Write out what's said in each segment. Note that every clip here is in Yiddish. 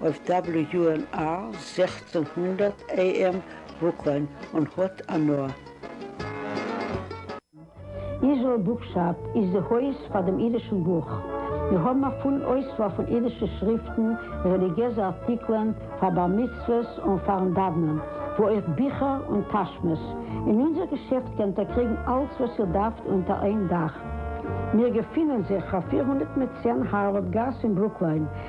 אויף WNR זעכצן הונדערט AM וואוקלען און האט הנאה. איזראעל בוקשאפ איז די הויז פאר דעם אידישן בוך. מיר האבן א פולן אויסוואל פון אידישע שריפטן, רעליגיעזע ארטיקלען פאר בר מצוות און פאר'ן דאוונען, ווי אויך ביכער און טאשמעס. אין אונזער געשעפט קענט איר קריגן אלץ וואס איר דארפט אונטער איין דאך. מיר געפינען זיך אויף פֿיר הונדערט צען הארווארד גאס אין ברוקליין.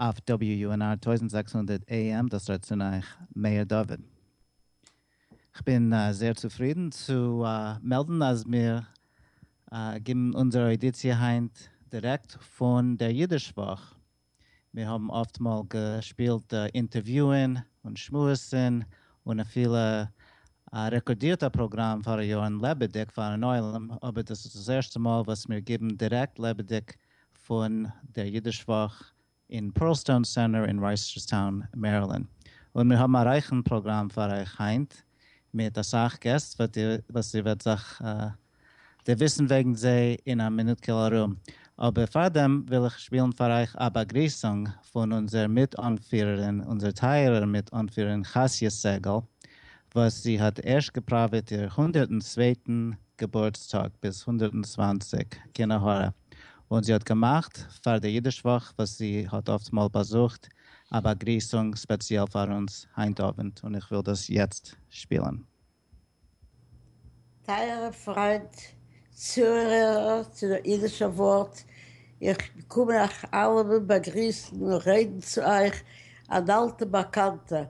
אויף WUNR טויזנט זעקס הונדערט AM דאס רעדט צון אייך מאיר דוד. כ'בין זייער צופרידן צו מעלדן אז מיר גיבן אונזער אוידיציע היינט דירעקט פון דער אידיש וואך. מיר האבן אפטמאל געשפילט אינטערוויוען און שמועסן און אפילו רעקארדירט א פראגראם פאראיארן לעבעדיג פארן עולם, אבער דאס איז דאס ערשטע מאל וואס מיר גיבן דירעקט לעבעדיג פון דער אידיש וואך אין פּערלסטאון סענטער אין רייסטשערסטאון מערילענד, און מיר האבן א רייכן פראגראם פאר אייך היינט מיט אסאך געסט וואס איר וועט זיך דערוויסן וועגן זיי אין א מינוט'קעל ארום, אבער פארדעם וויל איך שפילן פאר אייך א באגריסונג פון אונזער מיט אנפירערין, אונזער טייערער מיט אנפירערין חסיה סעגעל, וואס זי האט ערשט געפראוועט איר הונדערטן צווייטן געבורטסטאג ביז הונדערטן צוואַנציק כנהורא, און זי האט געמאכט פאר די אידיש וואך וואס זי האט אפטמאל באזוכט א באגריסונג ספעציעל פאר אונז היינט אווענט און איך וויל דאס יעצט שפילן. טייערע פריינט צוהערער צו דער אידישער ווארט, איך קום אייך אלעמען באגריסן און רעדן צו אייך, אן אלטע באקאנטע,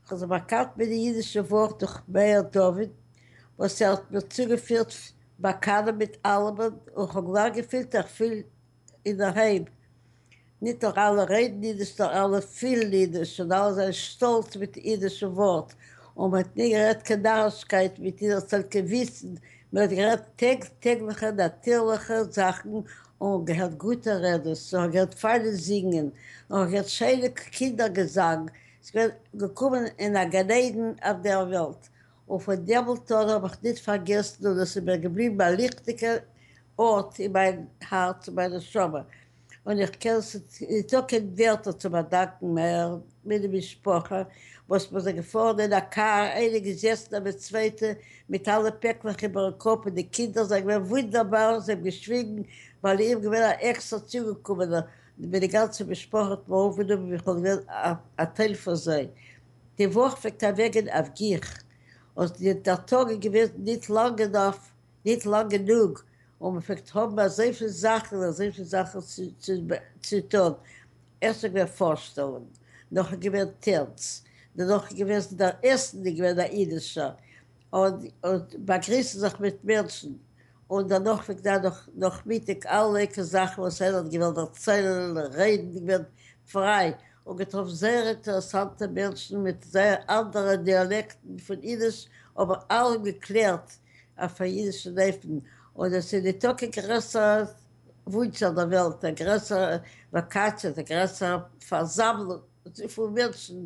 כ'האב זיך באקאנט מיט די אידישע ווארט דורך מאיר דוד וואס ער האט מיר צוגעפירט באקאנען מיט אלעמען און כ'האב גלייך געפילט איך פיל אינדערהיים. ניט נאר אלע רעדן אידיש נאר אלע פילן אידיש און אלע זענען שטאלץ מיט די אידישע ווארט און מען האט ניט גערעדט קיין נארישקייט מיט אינערצייט קיין וויצן, מען האט גערעדט טעג טעגליכע נאטירליכע זאכן און געהערט גוטע רעדעס און כ'האב געהערט פיינע זינגען און כ'האב געהערט שיינע קינדער געזאנג ס'געווען געקומען אין א גן עדן אויף דער וועלט, און פון דעם מאָלט אָן האָב איך ניט פאַרגעסן און עס איז מיר געבליבן א ליכטיקער אָרט אין מיין האַרץ און מיין נשמה, און איך קען ניט האָבן קיין ווערטער צו באַדאַנקען מער ווי די משפּחה, וואָס מיר זענען געפאָרן אין א קאַר, איינע געזעסן נעבן די צווייטע מיט אַלע פּעקלעך איבערן קאָפּ, און די קינדער זענען געווען וואונדערבאַר, זיי האָבן געשוויגן, ווייל איך בין געווען אַן עקסטער צוגעקומענער, ווען די גאנצע משפחה האט מיר אויפגענומען ווי כ'וואלט געווען א טייל פון זיי. די וואך פלעגט אוועקגיין אויף גיך, און דער טאג איז געווען ניט לאנג אינאף, ניט לאנג גענוג, און מען פלעגט האבן אזויפיל זאכן, אזויפיל זאכן צו טאן. ערשט איז געווען פארשטעלונג, נאכדעם איז געווען טענץ, דערנאך איז געווען דער עסן איז געווען א אידישער, און און באגריסן זיך מיט מענטשן, און דערנאך וועגט זיין נאך נאכמיטאג אלע עיקר זאכן וואס ער האט געוואלט דערציילן, רעדן, געווען פריי, און געטראפן זייער אינטערעסאנטע מענטשן מיט זייער אנדערע דיאלעקטן פון אידיש, אבער אלעם געקלערט אויף א אידישן אופן, און עס איז ניטא קיין גרעסערע וואונטש אויף דער וועלט, א גרעסערע וואקאציע, א גרעסערע פארזאמלונג פון מענטשן,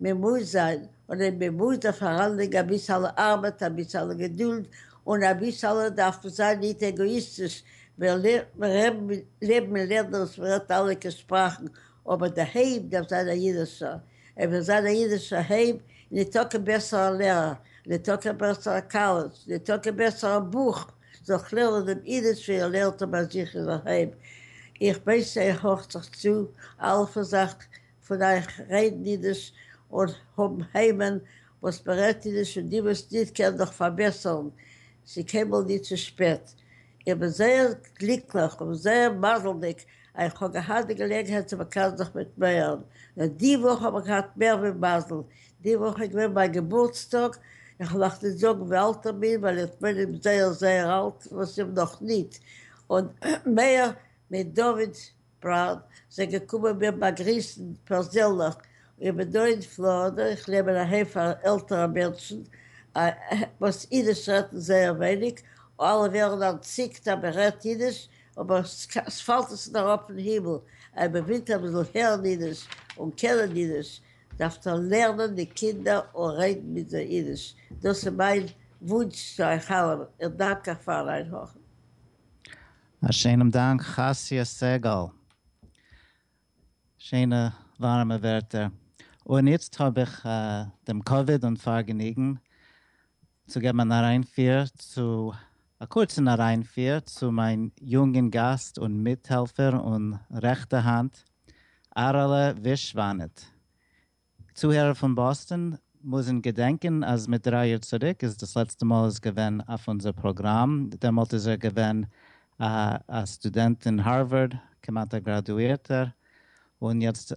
מען מוז זיין, אדער מען מוז דאך פאראנליגן אביסעלע ארבעט, אביסעלע געדולד, און אביסעלע דארף מען זיין ניט עגאאיסטיש, מען לערנט, מען רעב, מען לעב, מען לערנט דאס, מען רעדט אלע קע שפראכן, אבער דער הייב דארף זיין א אידישער, ער וויל זיין א אידישער הייב, ניט טאקע בעסער א לערער, ניט טאקע בעסער א קאלעדזש, ניט טאקע בעסער א בוך, זאל כ'לערנען דעם אידיש ווי ער לערנט אים ביי זיך אין זיין היים, איך ווייס ער הארכט זיך צו, אלפא זאך, פון אייך רעדן אידיש און האבן היימען וואס מען רעדט אידיש און די וואס ניט קענען דאך פארבעסערן, ס'איז קיינמאל ניט צו שפעט. איך בין זייער גליקליך און זייער מזל'דיג אז איך האב געהאט די געלעגנהייט צו מקנא זיך מיט מייערן. נאר די וואך האב איך געהאט מער ווי מזל, די וואך איז געווען מיין געבורטסטאג, איך מאך ניט זאגן ווי אלט איך בין ווייל איך בין אים זייער זייער אלט וואס אים נאך ניט, און מאיר מיט דוד פראוד, זיי געקומען מיר באגריסן פערזענליך, איך בין דא אין פלארידע, איך נעם אין אהיים פאר עלטערע מענטשן וואס אידיש רעדן זייער ווייניג, אלע ווערן אנטציקט אז מען רעדט אידיש, אבער ס'פאלט עס נישט אראפ פון הימל, אויב מען וויל אביסל הערן אידיש און קענען אידיש, דארפט איר לערנען די קינדער און רעדן מיט זיי אידיש, דאס איז מיין וואונטש צו אייך אלעמען, איך דאנק אייך פארן איינהארכן. א שיינעם דאנק חסי' סגל, שיינע ווארעמע ווערטער, און איצט האב איך דעם כבוד און פארגעניגן צו געבן אן אריינפיר צו, א קורצן אריינפיר צו מיין יונגן גאסט און מיטהעלפער און רעכטע האנט, אהרעלע ווישוואנעט, צוהערער פון באסטאן מוזן געדענקען אז מיט דריי יאר צוריק איז דאס לעצטע מאל איז געווען אויף אונזער פראגראם, דעמאלט איז ער געווען א סטודענט אין הארווארד, כמעט א גראדואירטער, און יעצט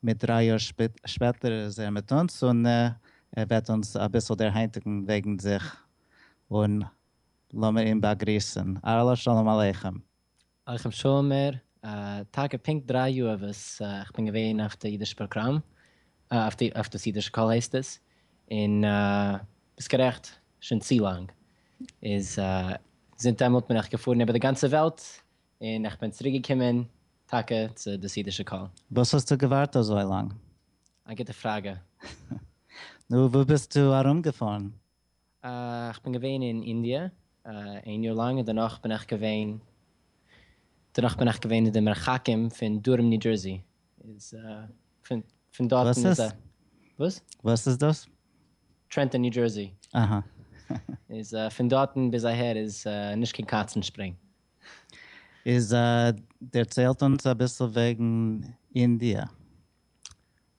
מיט דריי יאר שפעטער איז ער מיט אונז און ער וועט אונז אביסל דערהיינטיגן וועגן זיך, און לאמיר אים באגריסן. אהלא שלום עליכם. עליכם שאומר, טאקע פונקט דריי יאר וואס איך בין געווען אויף די אידישע פראגראם, אויף דאס אידישע קול הייסט עס, און ביסט גערעכט, שוין צו לאנג, איז זינט דעמאלט בין איך געפארן איבער די גאנצע וועלט, און איך בין צוריק געקומען טאקע צו דאס אידישע קול. וואס האסטו געווארט אזוי לאנג? א גוטע פראגע. נו, וואו ביסטו ארומגעפארן? איך בין געווען אין אינדיע איין יאר לאנג און דערנאך בין איך געווען דערנאך בין איך געווען אין די מרחקים פון דרום ניו דזשערסי איז פון דארטן איז וואס איז? וואס? וואס איז דאס? טרענטאן ניו דזשערסי אהא איז פון דארטן ביז אהער איז נישט קיין קאצן שפרינג. איז דערציילט אונז אביסל וועגן אינדיע.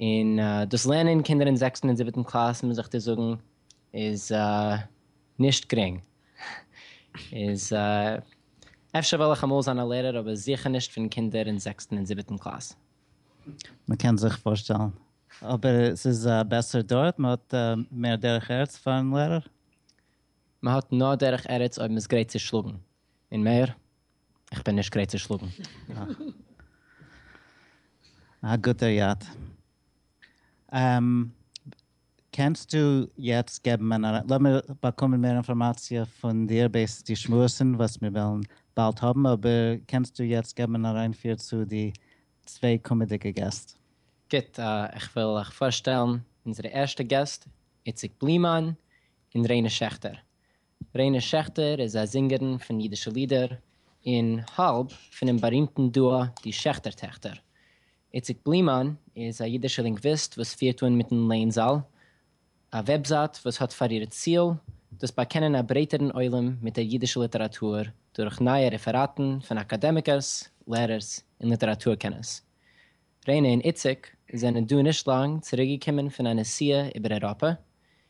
און דאס לערנען קינדער אין זעקסטן און זיבעטן קלאס מוז איך דיר זאגן איז נישט גרינג, איז אפשר וועל איך אמאל זיין א לערער אבער זיכער נישט פון קינדער אין זעקסטן און זיבעטן קלאס. מ'קען זיך פארשטעלן. אבער ס'איז בעסער דארט? מ'האט מער דרך ארץ פארן לערער? מ'האט נאר דרך ארץ אויב מ'איז גרייט צו שלאגן, און מער איך בין נישט גרייט צו שלאגן א גוטער יאט. קענסטו יעצט געבן אן אריין, לאמיר באקומען מער אינפארמאציע פון דיר בעת די שמועסן וואס מיר וועלן באלד האבן, אבער קענסטו יעצט געבן אן אריינפיר צו די צוויי קומעדיגע געסט. גוט, איך וויל אייך פארשטעלן אונזערע ערשטע געסט, איציק בלימאן און ריינע שעכטער. רענע שעכטער איז א זינגערין פון אידישע לידער און האלב פונעם בארימטן דועא די שעכטער טעכטער. איציק בלימאן איז א אידישער לינגוויסט וואס פירט אן מיטן לענזאל א וועבזייט וואס האט פאר איר ציל דאס באקענען א ברייטערן עולם מיט דער אידישער ליטעראטור דורך נייע רעפעראטן פון אקאדעמיקעס, לערערס און ליטעראטור קענערס. רענע און איציק זענען דא נישט לאנג צוריקגעקומען פון א נסיעה איבער אייראפע און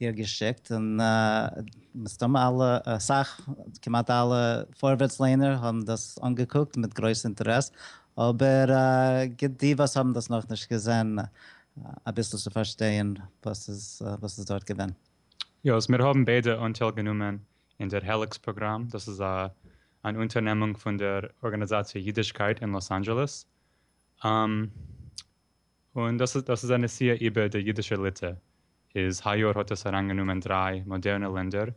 איר געשיקט, און מסתמא אלע, אסאך, כמעט אלע פארווערטס ליינער האבן דאס אנגעקוקט מיט גרויס אינטערעס, אבער גיבט די וואס האבן דאס נאכנישט געזען אביסל צו פארשטייען וואס איז דארט געווען. היות מיר האבן ביידע אנטייל גענומען אין דער העליקס פראגראם, דאס איז אן אונטערנעמונג פון דער ארגאניזאציע אידישקייט אין לאס אנדזשעלעס, און דאס איז דאס איז א נסיעה איבער די אידישע ליטע, איז היי יאר האט עס אריינגענומען דריי מאדערנע לענדער,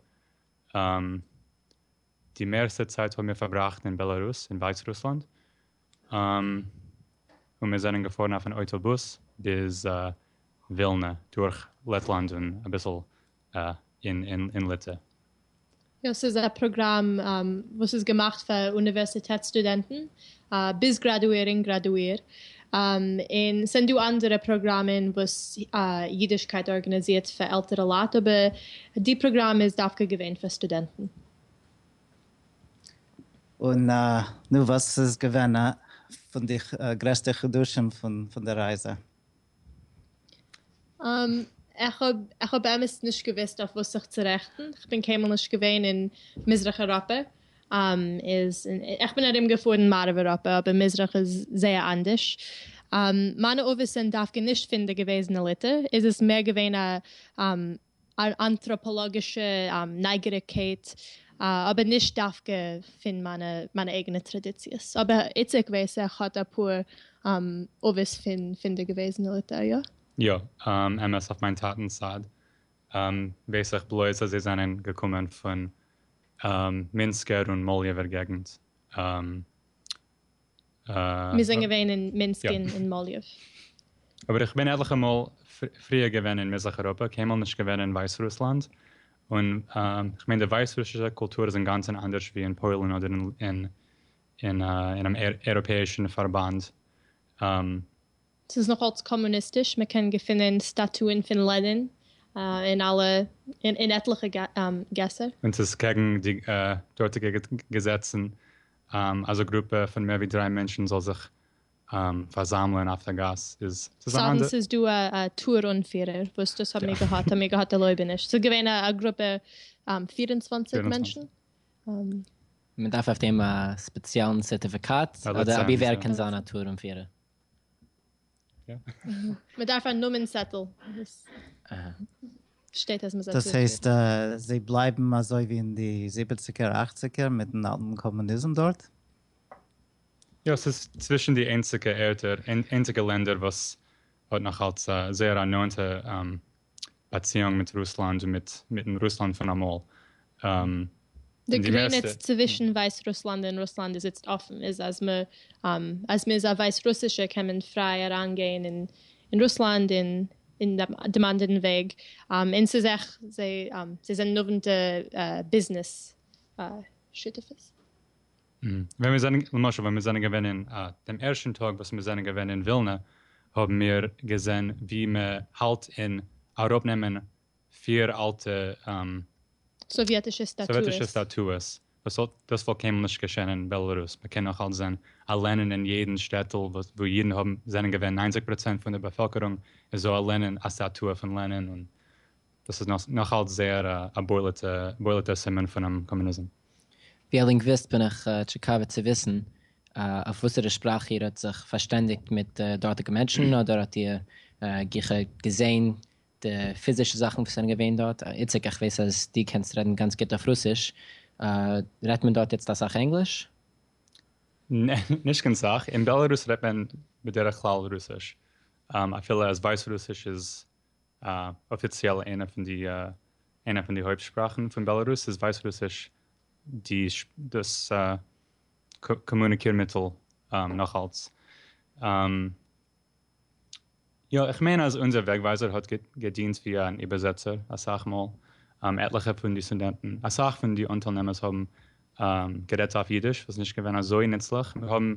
די מערסטע צייט האבן מיר פארבראכט אין בעלארוס און ווייץ רוסלאנד, און מיר זענען געפארן אויף אן אויטא בוס ביז ווילנע דורך לעטלאנד און אביסל אין ליטע. יא, ס'איז א פראגראם וואס איז געמאכט פאר אוניווערסיטעט סטודענטן, ביז גראדואירונג גראדואיר, און ס'זענען דא אנדערע פראגראמען וואס אידישקייט ארגאניזירט פאר עלטערע לייט, אבער די פראגראם איז דווקא געווען פאר סטודענטן. און נו, וואס איז געווען פון די גרעסטע חידושים פון די רייזע? איך האב איך האב באמת נישט געוויסט אויף וואס זיך צו רעכטן, כ'בין קיינמאל נישט געווען אין מזרח אייראפע, איז איך בין ארום געפארן מערב אייראפע אבער מזרח איז זייער אנדערש, מיינע אבות זענען דווקא נישט פון די געוועזענע ליטע, איז עס מער געווען א אן אנטראפאלאגישע נייגעריגקייט, אבער נישט דווקא פון מיינע אייגענע טראדיציעס, אבער איציק ווייס איך האט אפאר אבות פון די געוועזענע ליטא, יא? יא, אמת אויף מיין טאטנ'ס צד ווייס איך בלויז אז זיי זענען געקומען פון מינסקער און מאליעווער געגנט. מיר זענען געווען אין מינסק און אין מאליעוו. אבער איך בין עטליכע מאל פריער געווען אין מזרח אייראפע, קיינמאל נישט געווען אין ווייסרוסלאנד, און איך מיין די ווייסרוסישע קולטור איז אינגאנצן אנדערש ווי אין פוילן אדער אין אינעם אייראפעאישן פארבאנד, ס'איז נאך אלס קאמוניסטיש, מען קען געפינען סטאטוען פון לענין אין אלע אין עטליכע געסער. און ס'איז קעגן די דארטיגע געזעצן אז א גרופע פון מער ווי דריי מענטשן זאל זיך פארזאמלען אויף די גאס איז ס'איז אן אנדער. ס'איז דא א טור אנפירער וואס דאס האבן מיר געהאט האבן מיר געהאט ערלויבעניש ס'איז געווען א גרופע פיר און צוואנציג מענטשן. מען דארף אויף דעם א ספעציעלן סערטיפיקאט אדער אבי ווער קען זיין א טור אנפירער? מ'דארף א נאמען צעטל וואס שטייט אז מ'זאל. דאס הייסט זיי בלייבן אזוי ווי אין די זיבעציגער אכציגער מיטן אלטן קאמוניזם דארט? יא, ס'איז צווישן די איינציגע ערטער, איינציגע לענדער וואס האט נאכאלץ זייער א נאענטע באציאונג מיט רוסלאנד און מיט מיטן רוסלאנד פון אמאל. די גרעניץ צווישן ווייס רוסלאנד און רוסלאנד איז איצט אפן, איז אז מ אז מ'איז א ווייס רוסישע קען מען פריי אריינגיין אין אין רוסלאנד און און דעם אנדערן וועג, און ס'איז עכ ז זיי זענען נאוונטע ביזנעס שותפות. ווען מיר זענען, למשל ווען מיר זענען געווען אין א, דעם ערשטן טאג וואס מיר זענען געווען אין ווילנע, האבן מיר געזען ווי מען האלט אין אראפנעמען פיר אלטע סאוויעטישע סאוויעטישע סטאטועס. סטאטועס, וואס האט, דאס וואלט קיינמאל נישט געשען אין בעלארוס, מען קען נאך אלץ זען א לענין אין יעדן שטעטל וואס וואו אידן האבן זענען געווען ניינציג פראצענט פון דער באפעלקערונג איז דא א לענין א סטאטוע פון לענין און דאס איז נאך אלץ זייער א בולט'ער סימן פונעם קאמוניזם. ווי א לינגוויסט בין איך טשיקאוועט צו וויסן אויף וואסערע שפראך איר האט זיך פארשטענדיגט מיט די דארטיגע מענטשן, אדער האט איר ג כ געזעהן די פיזישע זאכן וואס זענען געווען דארט. איציק, איך ווייס אז דו קענסט רעדן גאנץ גוט אויף רוסיש, רעדט מען דארט איצט אסאך ענגליש? נע, נישט קיין סאך, אין בעלערוס רעדט מען בדרך כלל רוסיש, אפילו אז ווייסרוסיש איז א. אפיציעל איינע פון די איינע פון די הויפט שפראכן פון בעלארוס איז ווייסרוסיש, די דאס קאמוניקיר מיטל נאך אלץ. יא, איך מיין אז אונזער וועגווייזער האט געדינט ווי אן איבערזעצער אסאך מאל, עטליכע פון די סטודענטן, אסאך פון די אנטיילנעמערס האבן גערעדט אויף אידיש, וואס איז נישט געווען אזוי נוצליך, מיר האבן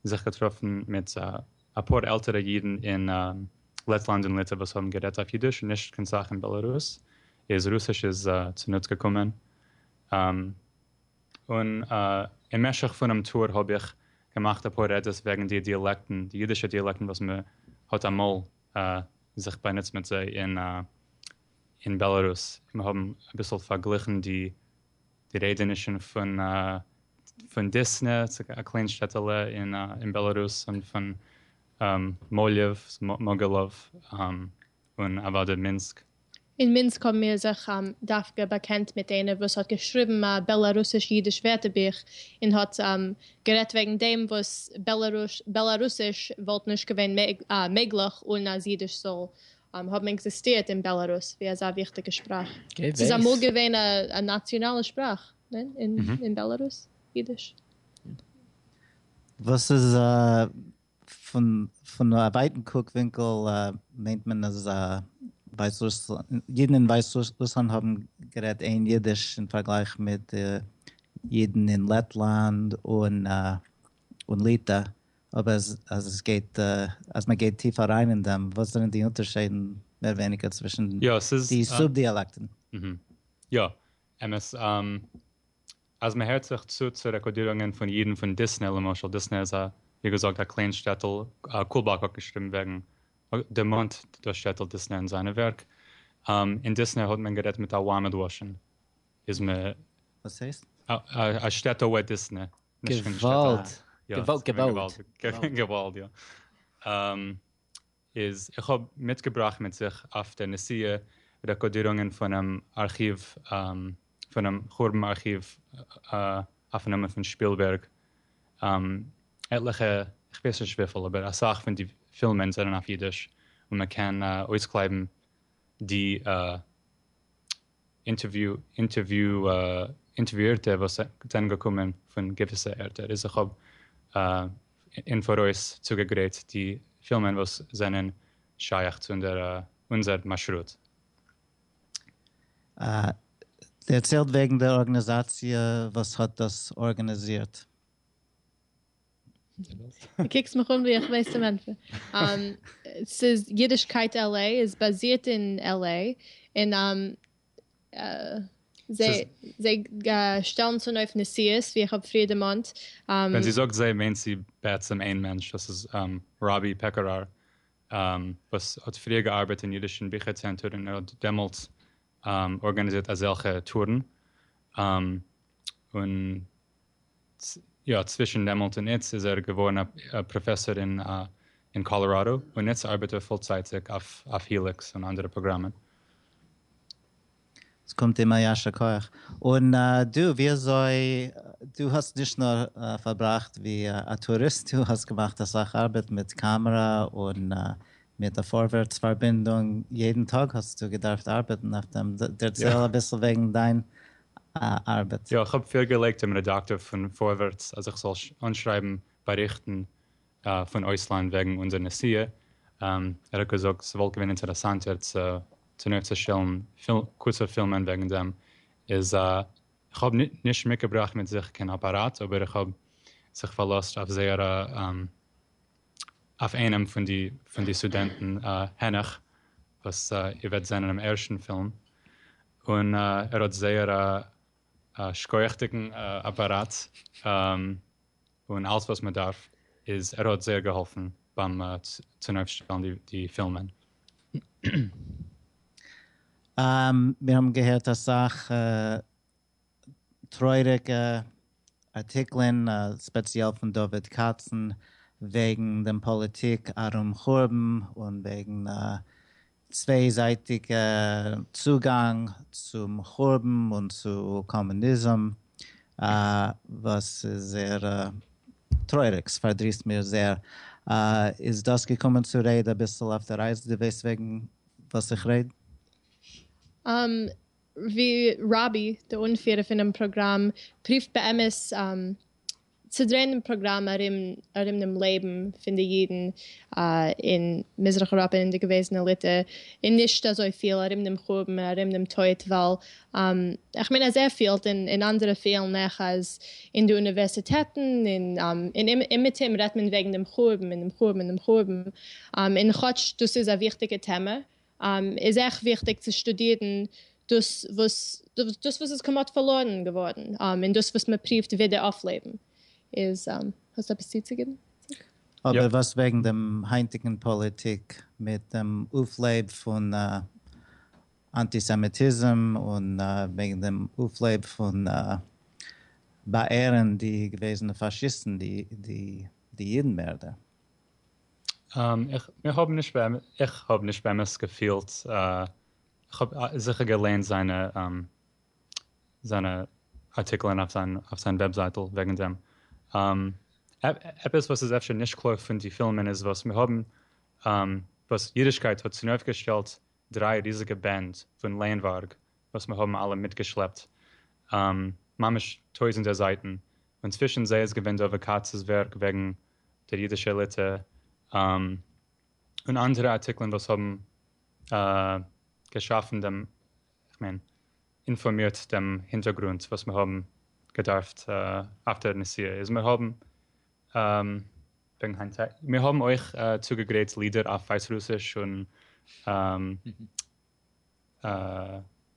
זיך געטראפן מיט. אפאר עלטערע אידן אין לעטלאנד און ליטע וואס האבן גערעדט אויף אידיש און נישט קיין סאך אין בעלארוס איז רוסיש איז צונוץ געקומען און אין משך פונעם טור האב איך געמאכט אפאר רעדעס וועגן די דיאלעקטן די אידישע דיאלעקטן וואס מען האט אמאל זיך באנוצט מיט זיי אין בעלארוס און מיר האבן אביסל פארגליכן די די רעדע איז נישט פון דיסנע, ס'איז א קליין שטעטעלע אין בעלארוס, און פון מאליוו, מאגילאוו, און אוודאי מינסק. אין מינסק האבן מיר זיך דווקא באקענט מיט איינער וואס האט געשריבן א בעלארוסיש-אידיש ווערטערבוך און האט גערעדט וועגן דעם וואס בעלארוסיש וואלט נישט געווען מעגליך אן אז אידיש זאל האבן עקזיסטירט אין בעלארוס ווי אזא וויכטיגע שפראך. ס'איז אמאל געווען א נאציאנאלע שפראך, ניין? אין בעלארוס? אידיש? וואס איז פון א ווייטן קוק ווינקל מיינט מען אז אידן אין ווייסרוסלאנד האבן גערעדט אין אידיש אין פארגלייך מיט אידן אין לעטלאנד און ליטא אבער אז עס גייט אז מען גייט טיף אריין אין דעם, וואס זענען די אונטערשיידן מער ווייניגער צווישן די סוב דיאלעקטן? יא, אמת. אז מען הערט זיך צו צו רעקארדירונגען פון אידן פון דיסנע, למשל, דיסנע איז א, ווי געזאגט, א קליין שטעטל, קולבאק האט געשריבן וועגן, דערמאנט דאס שטעטל דיסנע אין זיינע ווערק, אין דיסנע האט מען גערעדט מיט א וויימעדוואשן, איז מען. וואס הייסט? א שטעטל וועט דיסנע. געוואלד! געוואלד! געוואלד! געוואלד! יא. איז איך האב מיטגעבראכט מיט זיך אויף די נסיעה רעקארדירונגען פונעם ארכיוו, פונעם חורבן ארכיוו אויפנאמען פון שפילבערג. עטליכע, איך ווייס נישט וויפיל, אבער אסאך פון די פילמען זענען אויף אידיש און מען קען אויסקלייבן די אינטערוויאירטע וואס זענען געקומען פון געוויסע ערטער איז איך האב אין פאראויס צוגעגרייט די פילמען וואס זענען שייך צו אונזער מאשרוט. דערציילט וועגן דער ארגאניזאציע וואס האט דאס ארגאניזירט. דו קוקסט מיך אן ווי איך ווייס צום ענטפער. ס'איז אידישקייט LA איז באזירט אין LA און זיי שטעלן צונויף נסיעות ווי איך האב פריער דערמאנט. ווען זי זאגט זיי מיינט זי בעצם איין מענטש דאס איז ראבי פעקאראר וואס האט פריער געארבעט אין אידישן ביכער צענטער און ער האט דעמאלטס ארגאניזירט אזעלכע טורן און יא, צווישן דעמאלט און איצט איז ער געווארן א פראפעסאר אין קאלאראדא, און איצט ארבעט ער פולצייטיג אויף היליקס און אנדערע פראגראמען. עס קומט אים א יישר כח. און דו, ווי אזוי, דו האסט נישט נאר פארבראכט ווי א טוריסט, דו האסט געמאכט אסאך ארבעט מיט קאמערע און מיט די פארווערטס פארבינדונג, יעדן טאג האסטו געדארפט ארבעטן אויף דעם, דערצייל אביסל וועגן דיין ארבעט. יא, איך האב פירגעלייגט דעם רעדאקטאר פון פארווערטס אז איך זאל אנשרייבן באריכטן פון אויסלאנד וועגן אונזער נסיעה, ער האט געזאגט ס'וואלט געווען אינטערעסאנטער צו צונויפצושטעלן קורצע פילמען וועגן דעם, איז איך האב נישט מיטגעבראכט מיט זיך קיין אפאראט אבער איך האב זיך פארלאזט אויף זייערע אויף איינעם פון די פון די סטודענטן העניך וואס איר וועט זען אינעם ערשטן פילם, און ער האט זייער א שכוח'דיגן אפאראט, און אלס וואס מען דארף, איז ער האט זייער געהאלפן ביים צונויפשטעלן די פילמען. מיר האבן געהערט אסאך טרויעריגע ארטיקלען ספעציעל פון דוד קאצן וועגן דעם פאליטיק ארום חורבן און וועגן צוויי זייטיגע צוגאנג צום חורבן און צו קאמוניזם וואס איז זייער טרויעריג ספארדריסט מיר זייער איז דאס געקומען צו רעד אביסל אויף די רייזע די וועסט וועגן וואס איך רעד? ווי ראבי, די אנפירער פונעם פראגראם, פרובט באמת צו דרעהן דעם פראגראם ארום ארום דעם לעבן פון די אידן אין מזרח אייראפע און די געוועזענע ליטע, און נישט אזוי פיל ארום דעם חורבן און ארום דעם טויט, ווייל איך מיין אז ער פילט און און אנדערע פילן אויך אז אין די אוניווערסיטעטן און און אומעטום רעדט מען וועגן דעם חורבן און דעם חורבן און דעם חורבן, און כאטש דאס איז א וויכטיגע טעמע איז עכט וויכטיג צו שטודירן דאס וואס דאס וואס איז כמעט פארלוירן געווארן, און דאס וואס מען פריווט ווידער אויפלעבן. איז האסט עפעס צוצוגעבן? אבער וואס וועגן דעם היינטיגן פאליטיק מיט דעם אויפלעב פון אנטיסעמיטיזם און וועגן דעם אויפלעב פון באעהרן די געוועזענע פאשיסטן די אידן מערדער? איך האב נישט באמת געפילט, איך האב זיכער געליינט זיינע זיינע ארטיקלען אויף זיין אויף זיין וועבזייטל וועגן דעם, עפעס וואס איז אפשר נישט קלאר פון די פילמען איז וואס מיר האבן וואס אידישקייט האט צונויפגעשטעלט דריי ריזיגע בענד פון לענווארג וואס מיר האבן אלע מיטגעשלעפט ממש טויזענטער זייטן, און צווישן זיי איז געווען דא וואקאצ'ס ווערק וועגן דער אידישע עליטע, און אנדערע ארטיקלען וואס האבן געשאפן דעם, איך מיין, אינפארמירט דעם הינטערגרונט וואס מיר האבן געדארפט אויף דער נסיעה, איז מיר האבן מיר האבן אויך צוגעגרייט לידער אויף ווייסרוסיש און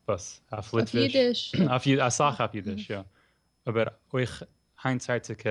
וואס אויף ליטוויש, אסאך אויף אידיש יא, אבער אויך היינטצייטיגע.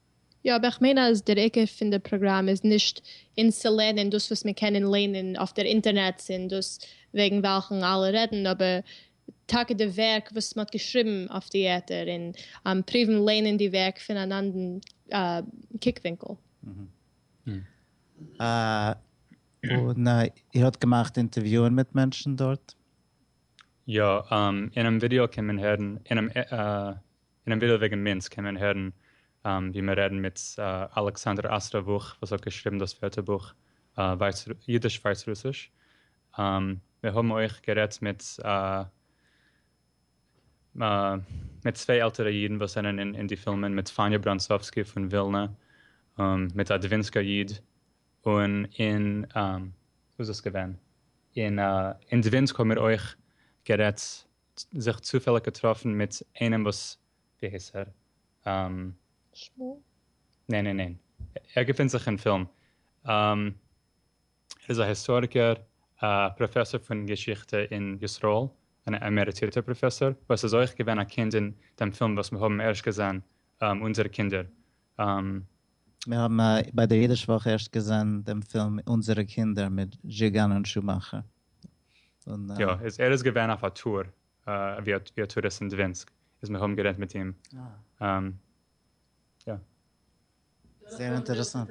יא אבער איך מיין אז דער עיקר פון די פראגראם איז נישט אונז צו לערנען דאס וואס מען קען און לערנען אויף דער אינטערנעץ און דאס וועגן וועלכן אלע רעדן אבער טאקע די ווערק וואס מען האט געשריבן אויף די ערטער און פריוון לערנען די ווערק פון אן אנדן קוקווינקל. און איר האט געמאכט אינטערוויוען מיט מענטשן דארט? יא, אינעם ווידעא קען מען הערן אינעם אינעם ווידעא וועגן מינץ קען מען הערן ווי מען רעדן מיט אלכסנדר אסטראווך וואס האט געשריבן דאס ווערטערבוך אידיש ווייסרוסיש. מיר האבן אויך גערעדט מיט מיט צוויי עלטערע אידן וואס זענען אין די פילמען, מיט פאניע בראנצאווסקי פון ווילנע, מיט א דווינסקא איד, און אין וואו איז דאס געווען? אין דווינסק האבן מיר אויך גערעדט זיך צופעליג געטראפן מיט איינעם וואס ווי הייסט ער? שמואל? ניין ניין ניין ער געפינט זיך אין פילם ער איז א היסטאריקער א פראפעסאר פון געשיכטע אין ישראל אן עמעריטירטער פראפעסאר וואס איז אויך געווען א קינד אין דעם פילם וואס מיר האבן ערשט געזען אונזערע קינדער. מיר האבן ביי דער אידיש וואך ערשט געזען דעם פילם אונזערע קינדער מיט זשיגאן און שומאכער. יא, איז ער איז געווען אויף א טור, ווי א טוריסט אין דווינסק, איז מיר האבן גערעדט מיט אים, יא. זייער אינטערעסאנט,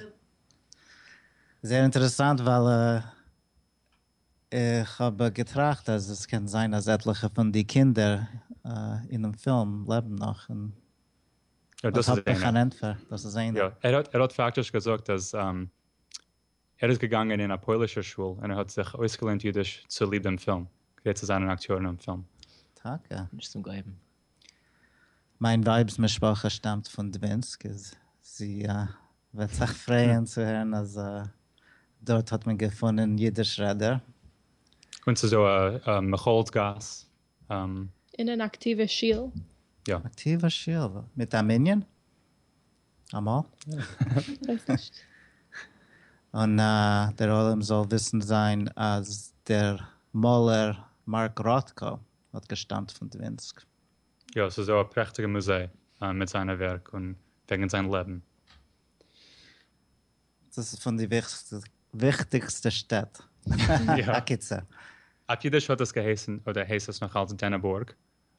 זייער אינטערעסאנט ווייל איך האב געטראכט אז עס קען זיין אז עטליכע פון די קינדער אינעם פילם לעבן נאך, און אט האב איך אן ענטפער, דאס איז איינער. יא, ער האט פאקטיש געזאגט אז ער איז געגאנגען אין א פוילישער שול און ער האט זיך אויסגעלערנט אידיש צוליב דעם פילם, כדי צו זיין אן אקטיאר אין דעם פילם. טאקע? נישט צום גלייבן. מיין ווייב'ס משפחה שטאמט פון דווינסק, איז זי וועט זיך פרייען צו הערן אז דארט האט מען געפונען אידיש רעדער. און ס'איז דא א מכללת גאס. און אן אקטיווע שול. יא. אקטיווע שול? מיט א מנין? אמאל. כ'ווייס נישט. און דער עולם זאל וויסן זיין אז דער מאלער מארק ראטקא האט געשטאמט פון דווינסק. יא, ס'איז דא א פרעכטיגע מוזיי מיט זיינע ווערק און וועגן זיין לעבן. דאס איז פון די וויכטיגסטע שטעט. הקיצור. אויף אידיש האט עס געהייסן, אדער הייסט עס נאך אלץ דענעבורג,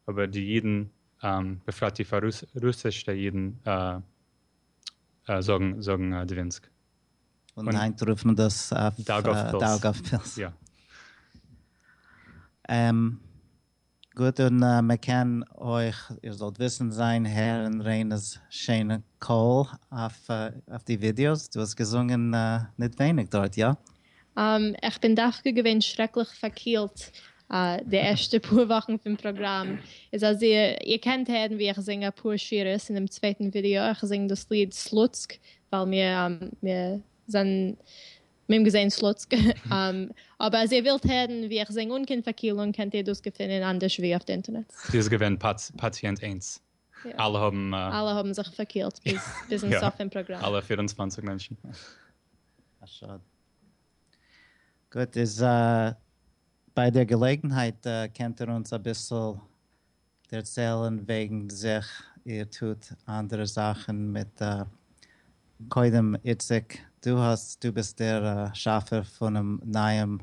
אבער די אידן, בפרט די פאר-רוסיש'טע אידן, זאגן זאגן דווינסק. און היינט רופט מען דאס אויף דאגאוו-פילס. יא. גוט, און מען קען אויך, איר זאלט וויסן, זען, הערן רענא'ס שיינע קול אויף די ווידיאוס. דו האסט געזונגען ניט ווייניג דארט, יא? איך בין דווקא געווען שרעקליך פארקילט די ערשטע פאר וואכן פון פראגראם, איז אז איר קענט הערן ווי איך זינג אפאר שורות אין דעם צווייטן ווידעא, איך זינג דאס ליד סלוצק ווייל מיר האבן געזען סלוצק, אבער אז איר ווילט הערן ווי איך זינג אן קיין פארקילונג קענט איר דאס געפינען אנדערש ווי אויף די אינטערנעט. זי איז געווען פאציענט איינס. אלע האבן א. אלע האבן זיך פארקילט ביזן סוף פון פראגראם. אלע פֿיר און צוואַנציק מענטשן. א שאד. גוט, איז ביי דער געלעגנהייט קענט איר אונז אביסל דערציילן וועגן זיך, איר טוט אנדערע זאכן מיט, קודם איציק, דו האסט, דו ביסט דער שאפער פונעם נייעם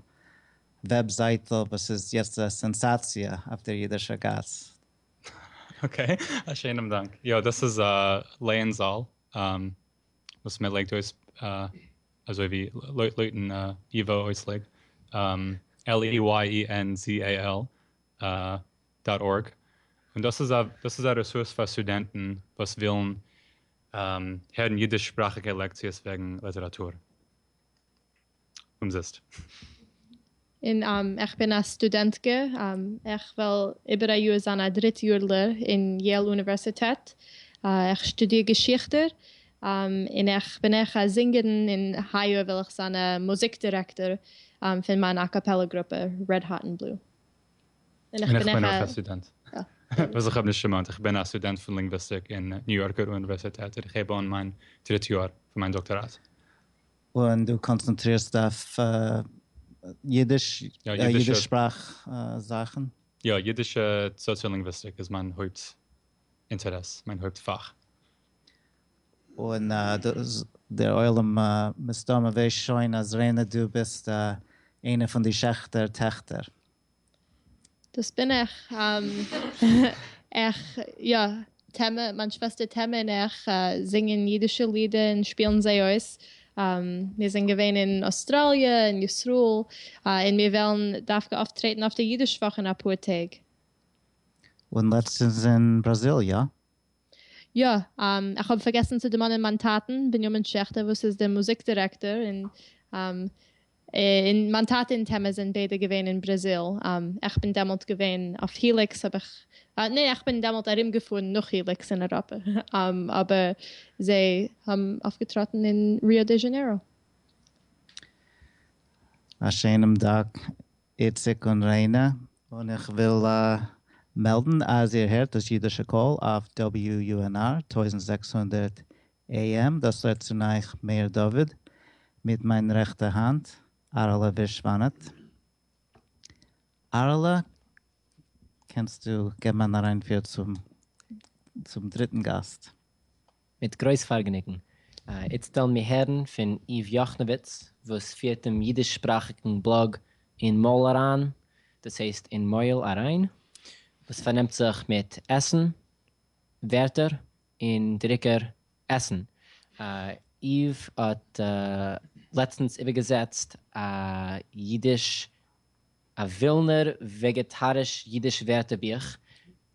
וועבזייטל וואס איז יעצט א סענסאציע אויף דער אידישער גאס, אקעי, א שיינעם דאנק. יא, דאס איז א לערן זאל וואס מען לייגט אויס אזוי ווי לויטן ייווא אויסלייג L-E-Y-E-N-Z-A-L דאט ארג, און דאס איז א דאס איז א רעסורס פאר סטודענטן וואס ווילן הערן אידיש שפראכיגע לעקציעס וועגן ליטעראטור. אומזיסט. און איך בין א סטודענטקע, איך וועל איבער א יאר זיין א דריט יארלער אין יעיל אוניווערסיטעט, איך שטודיר געשיכטע, און איך בין אויך א זינגערין און היי יאר וועל איך זיין א מוזיק דירעקטאר פון מיין אקאפעלע גרופע Red Hot and Blue. און איך בין אויך א סטודענט. וואס איך האב נישט דערמאנט, איך בין א סטודענט פון לינגוויסטיק אין ניו יארקער אוניווערסיטעט און איך הייב אן מיין דריט יאר פון מיין דאקטאראט. און דו קאנצענטרירסט אויף אידיש, אידיש שפראך זאכן? יא, אידישע סאציאלינגוויסטיק איז מיין הויפט אינטערעס, מיין הויפט פאך. און דער עולם מסתמא ווייסט שוין אז רענא דו ביסט איינע פון די שעכטער טעכטער. דאס בין איך, איך, יא, טעמע, מיין שוועסטער טעמע און איך זינגען אידישע לידער און שפילן זיי אויס, מיר זענען געווען אין אוסטראליע און ישראל, און מיר וועלן דווקא אויפטרעטן אויף די אידיש וואך אין אפאר טעג. און לעצטענס אין בראזיל, יא? יא, איך האב פארגעסן צו דערמאנען מיין טאטן בנימין שעכטער וואס איז דער מוזיק דירעקטאר און מיין טאטע און טעמע זענען ביידע געווען אין בראזיל, איך בין דעמאלט געווען אויף היליקס האב איך, ניין איך בין דעמאלט ארום געפארן נאך היליקס אין אייראפע, אבער זיי האבן אויפגעטראטן אין ריאו דע זשענעירא. א שענעם דאנק איציק און ריינע, און איך וויל מעלדן אז איר הערט דאס אידישע קול אויף WUNR טויזנט זעקס הונדערט AM, דאס רעדט צון אייך מאיר דוד, מיט מיין רעכטע האנט אהרעלע ווישוואנאט. אהרעלע, קענסטו געבן אן אריינפיר צום דריטן גאסט? מיט גרויס פארגעניגן. איצט וועלן מיר הערן פון איוו יאכנעוויץ וואס פירט דעם אידיש שפראכיגן בלאג אין מויל אריין, דאס הייסט אין מויל אריין, וואס פארנעמט זיך מיט עסן ווערטער און דריקער עסן. איוו האט לעצטנס איבערגעזעצט א אידיש א ווילנער וועגעטאריש אידיש ווערטער בוך.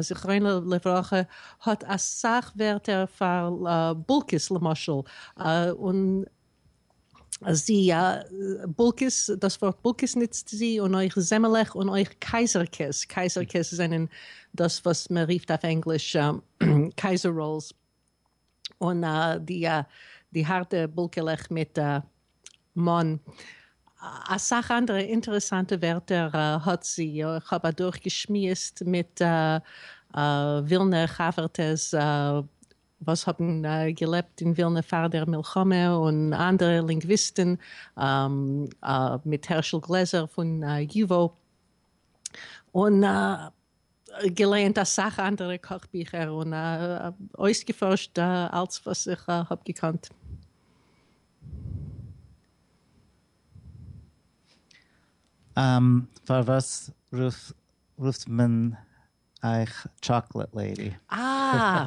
זכרונו לברכה האט אסאך ווערטער פאר בולקעס למשל און זי בולקעס דאס ווארט בולקעס ניצט זי און אויך זעמעלעך און אויך קייזערקעס קייזערקעס זענען דאס וואס מען ריפט אויף ענגליש קייזער ראלס. און די הארטע בולקעלעך מיט מאן. אסאך אנדערע אינטערעסאנטע ווערטער האט זי, איך האב אדורך געשמועסט מיט ווילנער חבר'טעס וואס האבן געלעבט אין ווילנע פאר דער מלחמה און אנדערע לינגוויסטן מיט הערשל גלעזער פון ייווא און געלייענט אסאך אנדערע קאך ביכער און אויסגעפארשט אלץ וואס איך האב געקאנט. פארוואס רופט מען אייך טשאקלעט לעידי? אה!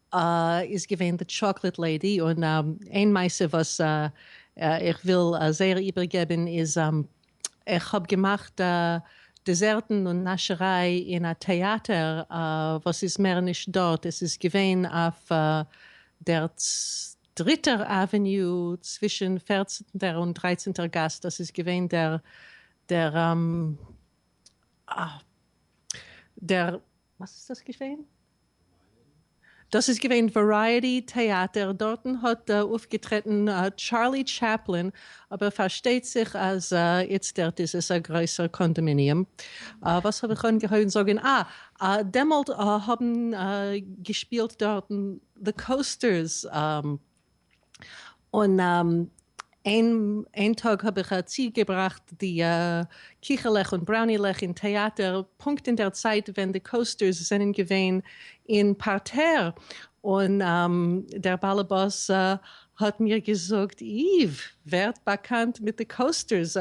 איז געווען די טשאקלעט לעידי, און איין מעשה וואס איך וויל זייער איבערגעבן איז, איך האב געמאכט דעזערטן און נאשעריי אין א טעאטער וואס איז מער נישט דארט, עס איז געווען אויף דער דריטער עוועניו צווישן פערצנטער און דרייצנטער גאס, דאס איז געווען דער דער דער וואס איז דאס געווען? דאס איז געווען ווערייעטי טעאטער, דארטן האט אויפגעטרעטן טשארלי טשעפלין, אבער פארשטייט זיך אז איצטערט איז עס א גרויסער קאנדאמיניעם. וואס האב איך אנגעהויבן זאגן, אה, דעמאלט האבן געשפילט דארטן The Coasters. און איין טאג האב איך צוגעבראכט די קיכעלעך און בראונילעך אין טעאטער, פונקט אין דער צייט ווען די קאוסטערס זענען געווען אין פארטער, און דער באלעבאס האט מיר געזאגט, איוו, ווערט באקאנט מיט די קאוסטערס.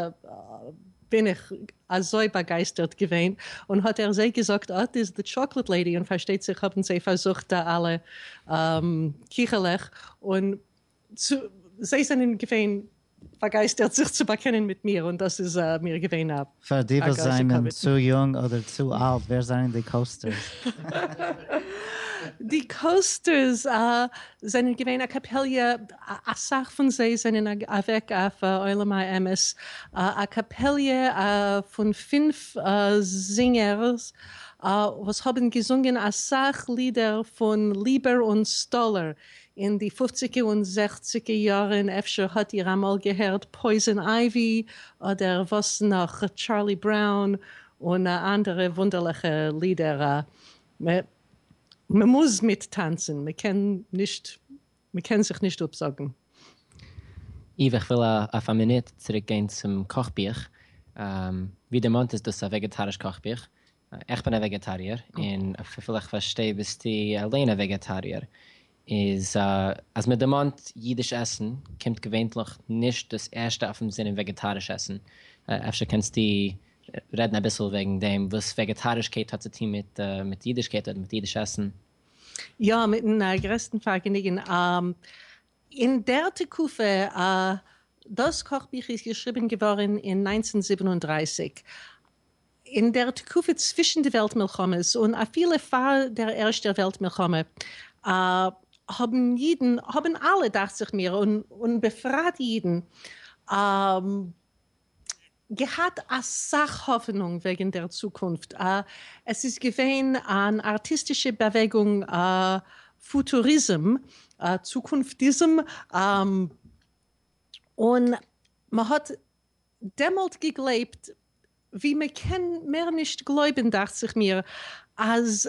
בין איך אזוי באגייסטערט געווען, און האט ער זיי געזאגט אט איז די טשאקלעט לעידי, און פארשטייט זיך האבן זיי פארזוכט די אלע קיכעלעך, און זיי זענען געווען באגייסטערט זיך צו באקענען מיט מיר, און דאס איז מיר געווען א גרויסע כבוד. פאר די וואס זענען צו יונג אדער צו אלט, ווער זענען די קאוסטערס? די קאוסטערס זענען געווען א קאפעליע א סאך פון זיי זענען אוועק אויף עולם האמת, א קאפעליע פון פֿינף זינגערס וואס האבן געזונגען אסאך לידער פון ליבער און סטאלער אין די פופציגע און זעכציגע יארן, אפשר האט איר אמאל געהערט פויזען אייווי אדער וואס נאך, טשארלי בראון און אנדערע וואונדערליכע לידער, מ'מוז מיטטאנצן, מ'קען נישט מ'קען זיך נישט אפזאגן. איוו איך וויל אויף א מינוט צוריק גיין צום קאך בוך, ווי דערמאנט איז דאס א וועגעטאריש קאך בוך, איך בין א וועגעטאריער און וויפיל איך פארשטיי ביסטו אליין א וועגעטאריער, איז אז מען דערמאנט אידיש עסן קומט געווענטליך נישט דאס ערשטע אויפן זינען וועגעטאריש עסן, אפשר קענסטו רעדן אביסל וועגן דעם וואס וועגעטארישקייט האט צו טון מיט אידישקייט אדער מיט אידיש עסן? יא, מיטן גרעסטן פארגעניגן. אין דער תקופה, דאס קאכביך איז געשריבן געווארן אין נײַנצן זיבן און דרײַסיק, אין דער תקופה צווישן די וועלט מלחמות, און אפילו פאר דער ערשטער וועלט מלחמה, האבן אידן, האבן אלע, דאכט זיך מיר, און בפרט אידן, געהאט אסאך האפענונג וועגן דער צוקונפט, א. עס איז געווען אן ארטיסטישע באוועגונג, א. פוטוריזם, א. צוקונפטיזם, א. און מען האט דעמאלט געגלייבט, ווי מען קען מער נישט גלויבען דאכט זיך מיר, אז.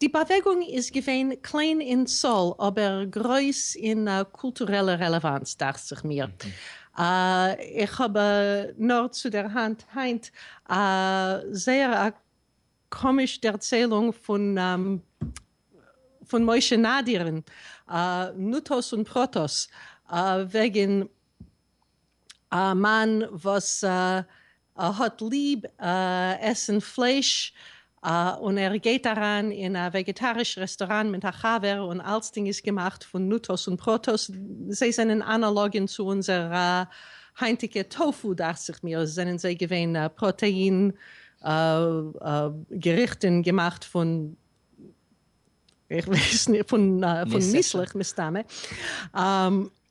די באוועגונג איז געווען קליין אין צאל אבער גרויס אין קולטורעלע רעלעוואנץ דאכט זיך מיר. איך האב נאר צו דער האנט היינט א זייער א קאמיש דערציילונג פון משה נאדיר'ן נוטות און פרוטות וועגן א מאן וואס האט ליב עסן פלייש און ער גייט אריין אין א וועגעטאריש רעסטוראנט מיט א חבר און אלצדינג איז געמאכט פון נוטאס און פראטאס, זיי זענען אנאלאגען צו אונזער היינטיגע טאפו דאכט זיך מיר, זענען זיי געווען פראטעין געריכטען געמאכט פון איך ווייס נישט פון ניסלעך מסתמא.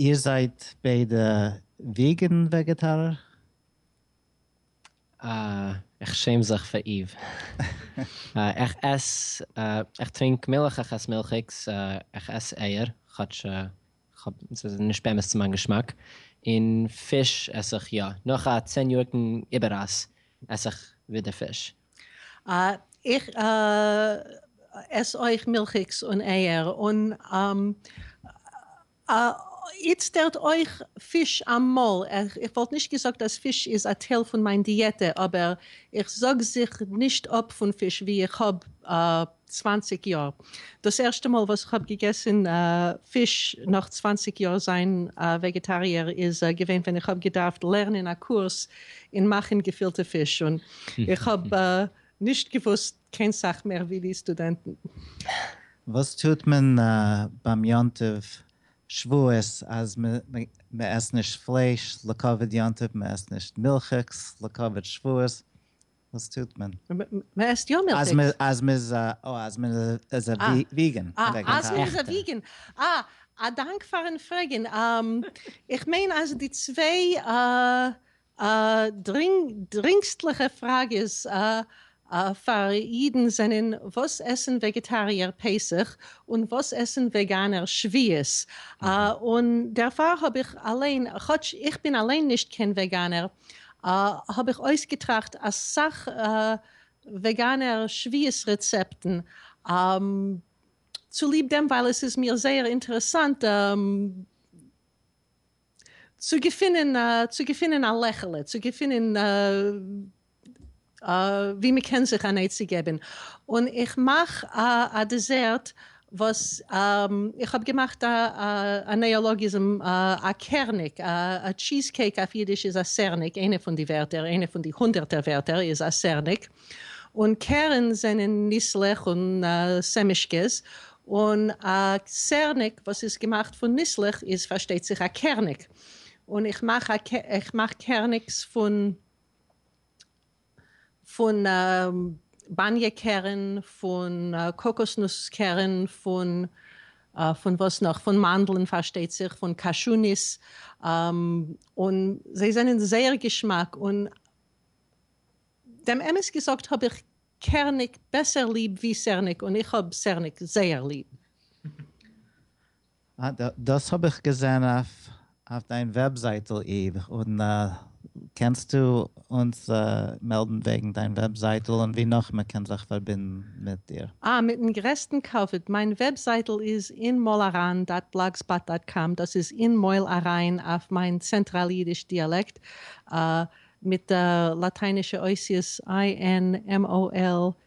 איר זייט ביידע וועגען וועגעטארער? אה, איך שעם זיך פאר איוו. איך עס, איך טרינק מילך, איך עס מילכיגס, איך עס אייער, כאטש כ'האב, ס'איז נישט באמת צו מיין געשמאק, און פיש עס איך יא, נאך א צען יאריקן איבעררייס עס איך ווידער פיש. איך עס אויך מילכיגס און אייער, און איצטערט אויך פיש אמאל, איך וואלט נישט געזאגט אז פיש איז א טייל פון מיין דיעטע אבער איך זאג זיך נישט אפ פון פיש ווי איך האב צוואַנציק יאר דאס ערשטע מאל וואס כ'האב געגעסן פיש נאך צוואַנציק יאר זיין א וועגעטאריער איז געווען ווען איך האב געדארפט לערנען א קורס אין מאכן געפילטע פיש און איך האב נישט געוואוסט קיין סאך מער ווי די סטודענטן. וואס טוט מען ביים יום טוב שבועות אז מ'עסט נישט פלייש לכבוד יום טוב, מ'עסט נישט מילכיגס לכבוד שבועות, וואס טוט מען? מען עסט יא מילכיגס. אז מען איז א אה אז מען איז א וויגען. אה אז מען איז א וויגען. אה א דאנק פארן פרעגן. איך מיין אז די צוויי דרינגסטליכע פראגעס פאר אידן זענען וואס עסן וועגעטאריער פסח און וואס עסן וועגאנער שביעות. און דערפאר האב איך אליין, כאטש איך בין אליין נישט קיין וועגאנער, האב איך אויסגעטראכט אסאך וועגאנער שביעות רעצעפטן, צוליב דעם ווייל עס איז מיר זייער אינטערעסאנט צו געפינען צו געפינען א לעכעלע צו געפינען. ווי מען קען זיך אן עצה געבן, און איך מאך א דעזערט וואס איך האב געמאכט א א נעאלאגיזם א קערניק, א טשיז קעיק אויף אידיש איז א סערניק, איינע פון די ווערטער, איינע פון די הונדערטער ווערטער איז א סערניק, און קערן זענען ניסלעך און סעמישקעס, און א סערניק וואס איז געמאכט פון ניסלעך איז פארשטייט זיך א קערניק, און איך מאך א איך מאך קערניקס פון. פון באניע קרן, פון קאקאסנוס קרן, פון פון וואס נאך? פון מאנדלן פארשטייט זיך, פון קאשוניס, און זיי זענען זייער געשמאק, און דעם אמת געזאגט האב איך קערניק בעסער ליב ווי סערניק, און איך האב סערניק זייער ליב. אה, דאס האב איך געזען אויף דיין וועבזייטל איד, און קענסטו אונז מעלדן וועגן דיין וועבזייטל און ווי נאך מען קען זיך פארבינדן מיט דיר? אה, מיטן גרעסטן כבוד, מיין וועבזייטל איז אין מויל אריין דאט בלאגספאט דאט קאם, דאס איז אין מויל אריין אויף מיין צענטראל אידיש דיאלעקט, אה, מיט לאטיינישע אותיות INMOLARAIN.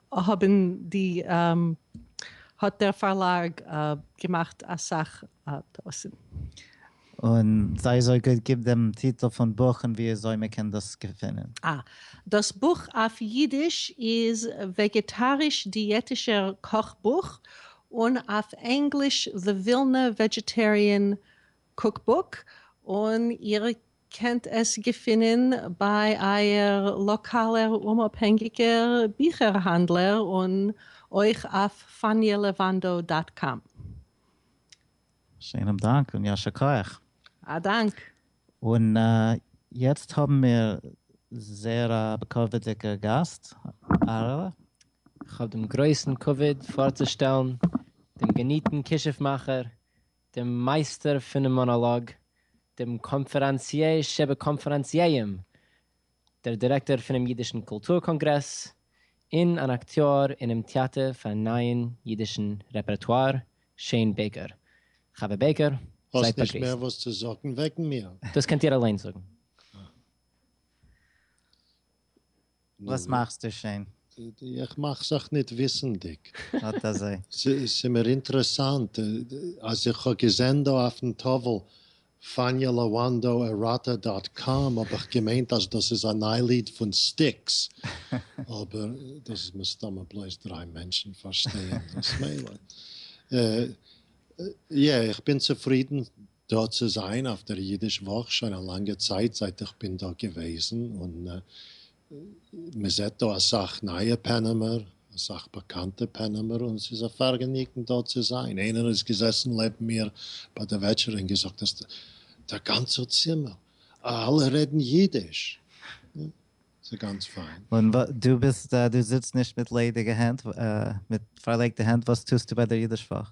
האבן די האט דער פארלאג געמאכט אסאך טעותים. און זיי אזוי גוט גיב דעם טיטל פון בוך און ווי אזוי מען קען דאס געפינען. אה. דאס בוך אויף אידיש איז וועגעטאריש דיעטישער קאך בוך, און אויף ענגליש The Vilna Vegetarian Cookbook, און איר קענט עס געפינען ביי אייער לאקאלער אומאפהענגיקער ביכער האנדלער און אויך אויף פאניעלעוואנדא דאט קאם. שיינעם דאנק און יישר כח. א דאנק. און יעצט האבן מיר זייער א בכבוד'דיגע גאסט אהרעלע. איך האב דעם גרויסן כבוד פארצושטעלן דעם געניטן כישוף מאכער דעם מייסטער פונעם מאנאלאג, דעם קאנפערענציער שבקאנפערענציערים, דער דירעקטאר פונעם אידישן קולטור קאנגרעס, און אן אקטיאר אינעם טעאטער פארן נייען אידישן רעפערטואר, שעין בעיקער. חוה בעיקער, זייט באגריסט. האסט נישט מער וואס צו זאגן וועגן מיר? דאס קענט איר אליינס זאגן. וואס מאכסטו שוין? איך מאך זיך ניט וויסנדיק. אָט אַזוי. ס'איז מיר אינטערעסאַנט, אַז איך האָב געזען דאָ אויפֿן טאָוול Fania Lawando Erotta dot com, האָב איך געמיינט, אַז דאָס איז אַ נײַ ליד פֿון סטיקס. אָבער דאָס איז מסתּמא בלויז דרײַ מענטשן פֿאַרשטייען דאָס. מילא. יע, איך בין צופֿרידן דא צו זיין אויף דער אידיש וואך שוין א לאנגע צייט זייט איך בין דא געוועזן און מען זעט דא אסאך נייע פענעמער אסאך באקאנטע פענעמער און ס'איז א פארגעניגן דא צו זיין איינער איז געזעסן לעבן מיר ביי די וועטשערע און געזאגט אז דער גאנצער צימער אלע רעדן אידיש ס'איז גאנץ פיין. און דו ביסט דו זיצט נישט מיט ליידיגע הענט מיט פארלייגטע הענט וואס טוסטו ביי דער אידיש וואך?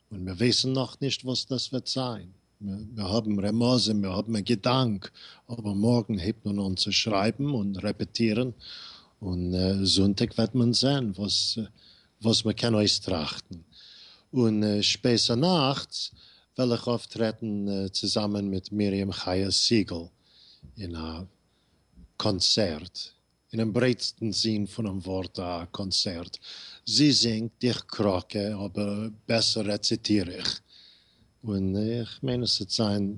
און מיר ווייסן נאכנישט וואס דאס וועט זיין, מיר האבן רמזים, מיר האבן א געדאנק, אבער מארגן הייבט מען אן צו שרייבן און רעפעטירן, און זונטאג וועט מען זען וואס מען קען אויסטראכטן. און שפעסער נאכטס וועל איך אויפטרעטן צוזאמען מיט מרים חיה סיגל אין א קאנצערט אינעם ברייטסטן זין פונעם ווארט א קאנסערט. זי זינגט, איך קראקע, אבער בעסער רעציטיר איך. און איך מיין עס וועט זיין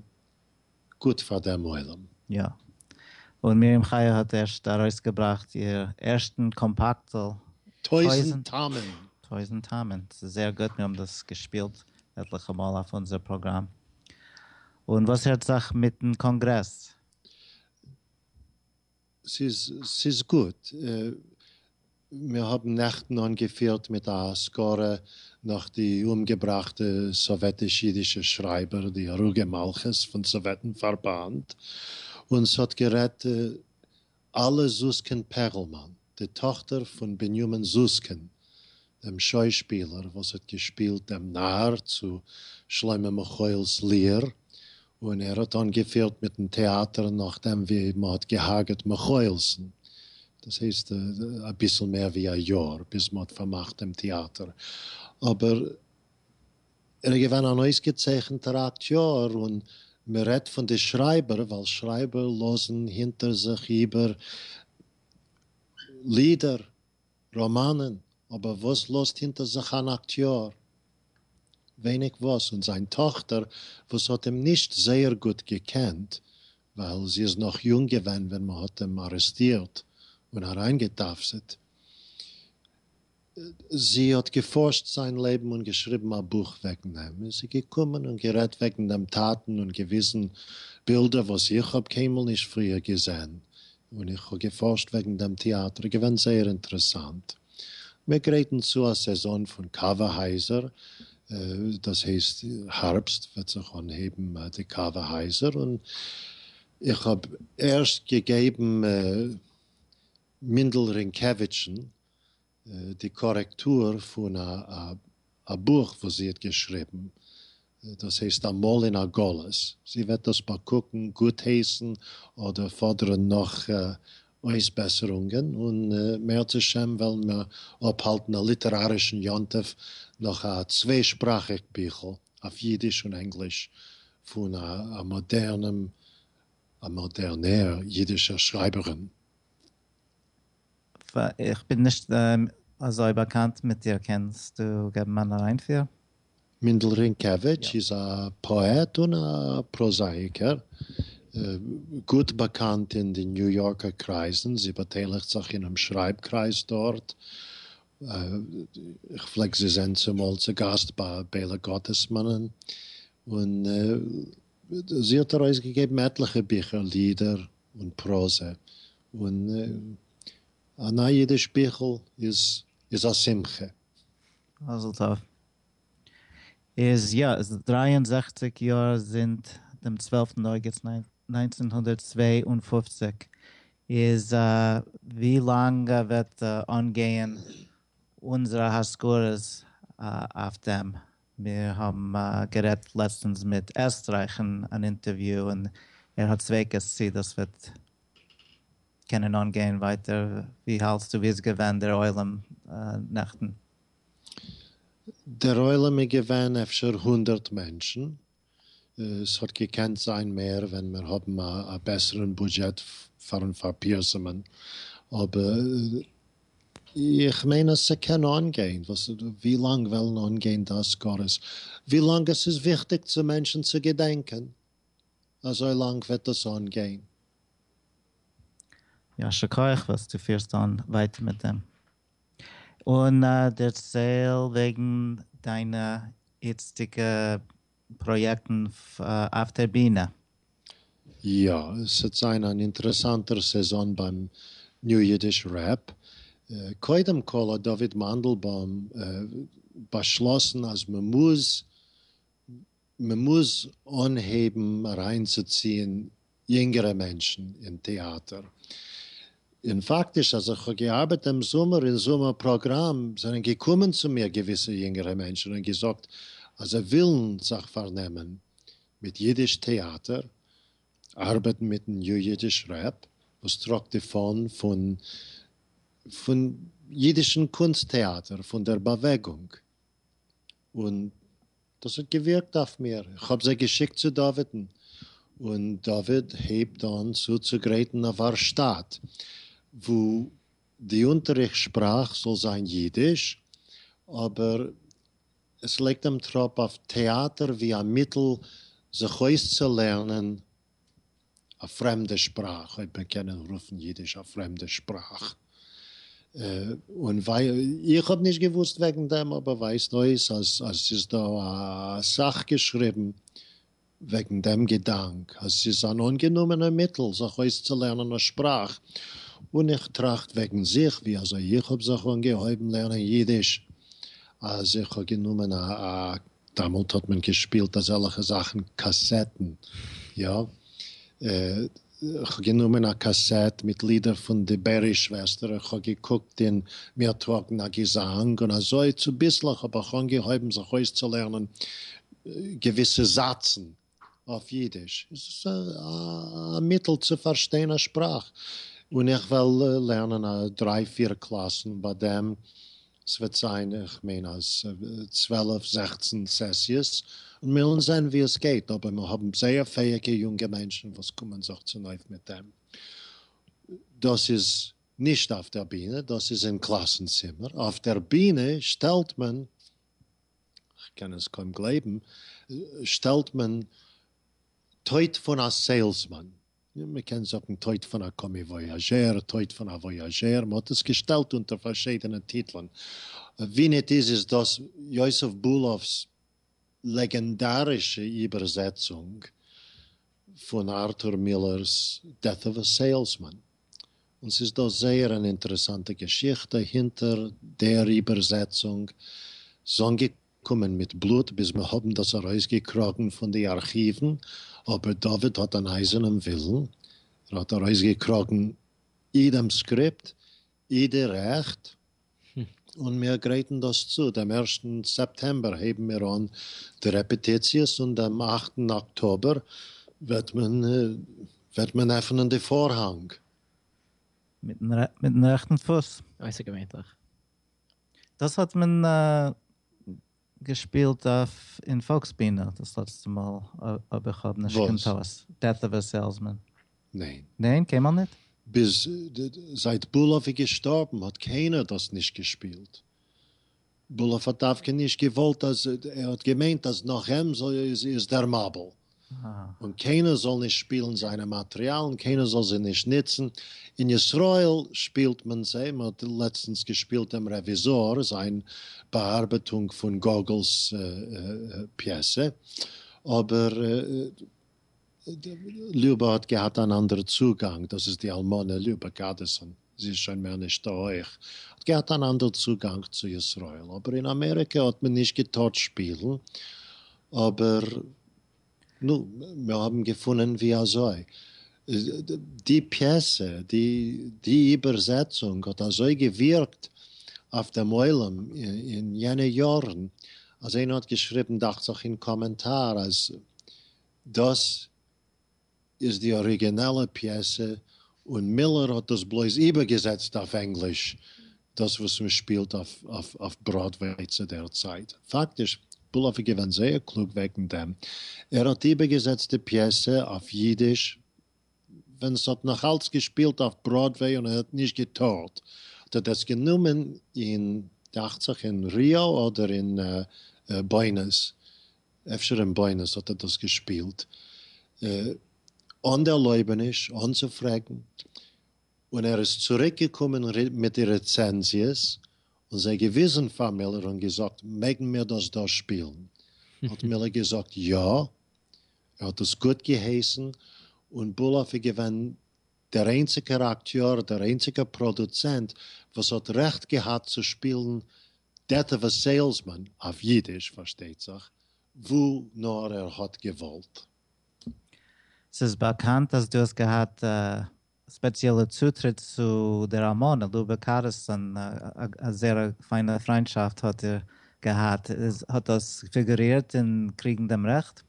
גוט פאר דעם עולם. יא. און מרים חיה האט ערשט ארויסגעבראכט איר ערשטן קאמפאקטל. טויזנט טעמים. טויזנט טעמים. ס'איז זייער גוט, מיר האבן דאס געשפילט עטליכע מאל אויף אונזער פראגראם. און וואס הערט זיך מיטן קאנגרעס? ס'איז ס'איז גוט. מיר האבן נעכטן אנגעפירט מיט א אזכרה נאך די אומגעבראכטע סאוועטיש אידישע שרייבער די הרוגי מלכות פון סאוועטן פארבאנד, און ס'האט גערעדט אלה זוסקין פערלמאן, די טאכטער פון בנימין זוסקין דעם שוישפילער וואס האט געשפילט דעם נאַר צו שלמה מוחאיל'ס ליר, און ער האט אנגעפירט מיטן טעאטער נאכדעם ווי מ'האט געהארגעט מוחאיל'סן, דאס הייסט אביסל מער ווי א יאר ביז מ'האט פארמאכט דעם טעאטער, אבער ער איז געווען אן אויסגעצייכנטער אקטיאר, און מ'רעדט פון די שרייבער, ווייל שרייבער לאזן הינטער זיך איבער לידער ראמאנען, אבער וואס לאזט הינטער זיך אן אקטיאר? ווייניג וואס, און זיין טאכטער וואס האט אים נישט זייער גוט געקענט, ווייל זי איז נאך יונג געווען ווען מען האט אים ארעסטירט און אריינגעטאפסעט, זי האט געפארשט זיין לעבן און געשריבן א בוך וועגן אים, איז זי געקומען און גערעדט וועגן דעם טאטן און געוויזן בילדער וואס איך האב קיינמאל נישט פריער געזען, און איך האב געפארשט וועגן דעם טעאטער, געווען זייער אינטערעסאנט. מיר גרייטן צו א סעזאן פון קאווע הייזער, דאס הייסט הארבסט וועט זיך אנהייבן די קאווע הייזער, און איך האב ערשט געגעבן מינדל רינקעוויטשן די קארעקטור פון א בוך וואס זי האט געשריבן, דאס הייסט אמאל אין א גלות, זי וועט דאס באקוקן, גוטהייסן אדער פאדערן נאך אויסבעסערונגען, און מערצ השם וועלן מיר אפהאלטן א ליטערארישן יום טוב נאך א צוויי שפראכיג ביכל אויף אידיש און ענגליש פון א מאדערנער אידישער שרייבערין. איך בין נישט אזוי באקאנט מיט דיר, קענסטו געבן אן אריינפיר? מענדל רינקעוויטש איז א פאעט און א פראזאאיקער, גוט באקאנט אין די ניו יארקער קרייזן, זי באטייליכט זיך אינעם שרייב קרייז דארט, איך פלעג זי זען צומאל צוגאסט ביי בעלא גאטעסמאנען, און זי האט ארויסגעגעבן עטליכע ביכער, לידער, און פראזע, און א נייע אידיש ביכל איז א שמחה. מזל טוב. איז יא, עס איז דרײַ און זעכציק יאר זינט דעם צוועלפטן אוגוסט נײַנצן הונדערט צוויי און פֿופֿציק. איז ווי לאנג וועט אנגייען אונזערע הזכרות אויף דעם? מיר האבן גערעדט לעצטענס מיט עסטרייך אין אן אינטערוויו און ער האט ספיקות צי דאס וועט קענען אנגיין ווייטער, ווי האלטסטו ווי איז געווען דער עולם נעכטן? דער עולם איז געווען אפשר הונדערט מענטשן, ס'האט געקענט זיין מער ווען מיר האבן א בעסערן בודזשעט פארן פארפירסמ'ן, אבער איך מיין אז ס'קען אנגיין, ווי לאנג וועלן אנגיין די אזכרות? ווי לאנג עס איז וויכטיג צו מענטשן צו געדענקען, אזוי לאנג וועט דאס אנגיין. יישר כח וואס דו פירסט אן ווייטער מיט דעם. און דערצייל וועגן דיינע איצטיגע פראיעקטן אויף דער בינע. יא, ס'עט זיין אן אינטערעסאנטער סעזאן ביים ניו אידיש רעפ. קודם כל האט דוד מאנדלבוים באשלאסן אז מ'מוז מען מוז אנהייבן אריינצוציען יונגערע מענטשן אין טעאטער, און פאקטיש אז איך האב געארבעט דעם זומער אין זומער פראגראם זענען געקומען צו מיר געוויסע יונגערע מענטשן און געזאגט אז זיי ווילן זיך פארנעמען מיט אידיש טעאטער, ארבעטן מיטן יו אידיש רעפ וואס טראגט די פאן פון פון אידישן קונסט טעאטער פון דער באוועגונג און דאס האט געווירקט אויף מיר, איך האב זיי געשיקט צו דאוויד'ן, און דוד הייבט אן צוצוגרייטן א ווארשטאט וואו די אונטעריכט שפראך זאל זיין אידיש, אבער עס לייגט דעם טראפ אויף טעאטער ווי א מיטל זיך אויסצולערנען א פרעמדע שפראך, אויב מיר קענען רופן אידיש א פרעמדע שפראך, און איך האב נישט געוואוסט וועגן דעם אבער ווייזט אויס אז ס'איז דא אסאך געשריבן וועגן דעם געדאנק אז ס'איז אן אנגענומענע מיטל זיך אויסצולערנען א שפראך, און איך טראכט וועגן זיך ווי אזוי איך האב זיך אנגעהויבן לערנען אידיש אז איך האב גענומען א. דעמאלט האט מען געשפילט אזעלעכע זאכן קאסעטן, יא. כ'האב גענומען א קאסעט מיט לידער פון די בערי שוועסטער און כ'האב געקוקט אין מיר טראגן א געזאנג און אזוי צוביסלעך האב איך אנגעהויבן זיך אויסצולערנען געוויסע זאצן. אויף אידיש איז עס א מיטל צו פארשטיין א שפראך, און איך וועל לערנען א דריי פיר קלאסן ביי דעם, ס'וועט זיין איך מיין אז צוועלף זעכצן סעסיעס, און מיר וועלן זען ווי עס גייט, אבער מיר האבן זייער פעאיגע יונגע מענטשן וואס קומען זיך צונויף מיט דעם, דאס איז נישט אויף דער בינע דאס איז אין קלאסן צימער, אויף דער בינע שטעלט מען. כ'קען עס קוים גלייבן, שטעלט מען טויט פון א סעילסמאן, מ'קען זאגן טויט פון א קאמיוואיאזשער, טויט פון א וואיאזשער, מ'האט עס געשטעלט אונטער פארשידענע טיטלען, ווי ניט איז איז דאס יוסף בולאפ'ס לעגענדארישע איבערזעצונג פון ארטור מילער'ס דעט אוו א סעילסמאן, און ס'איז דא זייער אן אינטערעסאנטע געשיכטע הינטער דער איבערזעצונג, ס'איז אנגעקומען מיט בלוט ביז מיר האבן דאס ארויסגעקראגן פון די ארכיוון, אבער דוד האט אן אייזערנעם ווילן, ער האט ארויסגעקראגן אי דעם סקריפט אי די רעכט. און מיר גרייטן דאס צו, דעם ערשטן סעפטעמבער הייבן מיר אן די רעפעטיציעס און דעם אכטן אקטאבער וועט מען וועט מען עפענען די פארהאנג. מיטן רעכטן פוס. אויסערגעווענליך. דאס האט מען געשפילט אויף אין פאלקס בינע דאס לעצטע מאל אויב איך האב נישט קיין טעות, דעט אוו א סעילסמען. ניין. ניין? קיינמאל ניט? ביז זייט בולעף איז געשטארבן האט קיינער דאס נישט געשפילט. בולעף האט דווקא נישט געוואלט אז ער האט געמיינט אז נאך אים איז דער מבול. און קיינער זאל נישט שפילן זיינע מאטריאלן, קיינער זאל זיי נישט ניצן, אין ישראל שפילט מען זיי, מען האט לעצטנס געשפילט דעם רעוויזאר זיין באארבעטונג פון גאגעל'ס פיעסע, אבער ליובע האט געהאט אן אנדערע צוגאנג, דאס איז די אלמנה ליובע גאדעסאן. זי איז שוין מער נישט דא אויך. האט געהאט אן אנדער צוגאנג צו ישראל. אבער אין אמעריקא האט מען נישט געטארט שפילן. אבער נו, מיר האבן געפונען ווי אזוי. די פיעסע, די איבערזעצונג האט אזוי געווירקט אויף דעם עולם אין יענע יארן, אז איינער האט געשריבן דאכצעך אין קאמענטאר אז דאס. איז די אריגינעלע פיעסע און מילער האט דאס בלויז איבערגעזעצט אויף ענגליש דאס וואס מען שפילט אויף בראדוועי צו דער צייט. פאקטיש, בלאף איז געווען זייער קלוג וועגן דעם, ער האט איבערגעזעצט די פיעסע אויף אידיש ווען עס האט נאך אלץ געשפילט אויף בראדוועי און ער האט נישט געטארט, האט ער דאס גענומען אין דאכצעך אין ריאו אדער אין בוענאס אפשר אין בונוס האט ער דאס געשפילט אן די ערלויבעניש אנצופרעגן, און ער איז צוריק געקומען מיט די רעצענזיעס און זיי געוויזן פאר מילער און געזאגט מעגן מיר דאס דא שפילן? האט מילער געזאגט יא, ער האט דאס גוט געהייסן, און בולאף איז געווען דער איינציגער אקטיאר, דער איינציגער פראדוצענט וואס האט רעכט געהאט צו שפילן דעטווע סעילסמאן אויף אידיש פארשטייט זיך, וואו נאר ער האט געוואלט. ס'איז באקאנט אז דו האסט געהאט א ספעציעלע צוטריט צו דער אמן ע ל בקארסאן, א זערא פיינע פריינטשאפט האט איר געהאט, איז האט דאס פיגורירט אין קריגן דעם רעכט?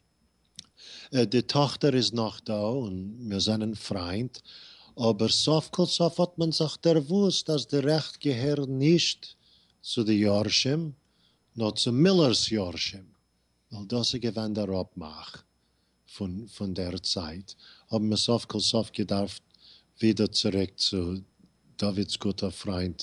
די טאכטער איז נאך דא און מיר זענען פריינט, אבער סוף כל סוף האט מען זיך דערוואוסט אז די רעכט געהערן נישט צו די יורשים נאר צו מיללער'ס יורשים, ווייל דאס איז געווען דער אפמאך פון דער צייט, האבן מיר סוף כל סוף געדארפט ווידער צוריק צו דוד'ס גוטער פריינט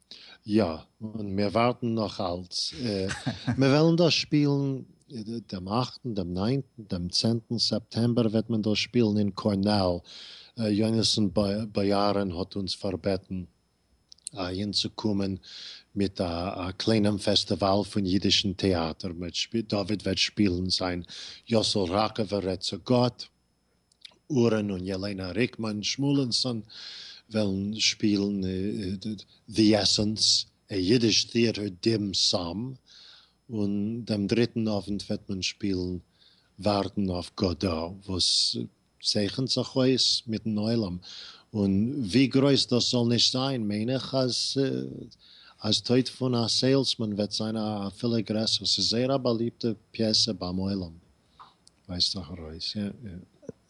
יא, און מיר ווארטן נאך אלץ. מיר וועלן דאס שפילן דעם אכטן, דעם ניינטן, דעם צענטן סעפטעמבער וועט מען דאס שפילן אין קארנעל. יונתן באיארען האט אונז פארבעטן אהינצוקומען מיט א קליינעם פעסטיוואל פון אידישן טעאטער. דוד וועט שפילן זיין יאסל ראקאווער רעדט צו גאט. אורן און ילענא ריקמאן שמואלינסאן וועלן שפילן The Essence, א יידיש טעאטער דים סאם, און דעם דריטן אוונט וועט מען שפילן ווארטן אויף גאדא, וואס צייכנט זיך אויס מיטן עולם, און ווי גרויס דאס זאל נישט זיין מיין איך אז טויט פון א סעילסמאן וועט זיין אפילו גרעסער, ס'איז זייער א באליבטע פיעסע ביים עולם. ווייזט דאך ארויס יא.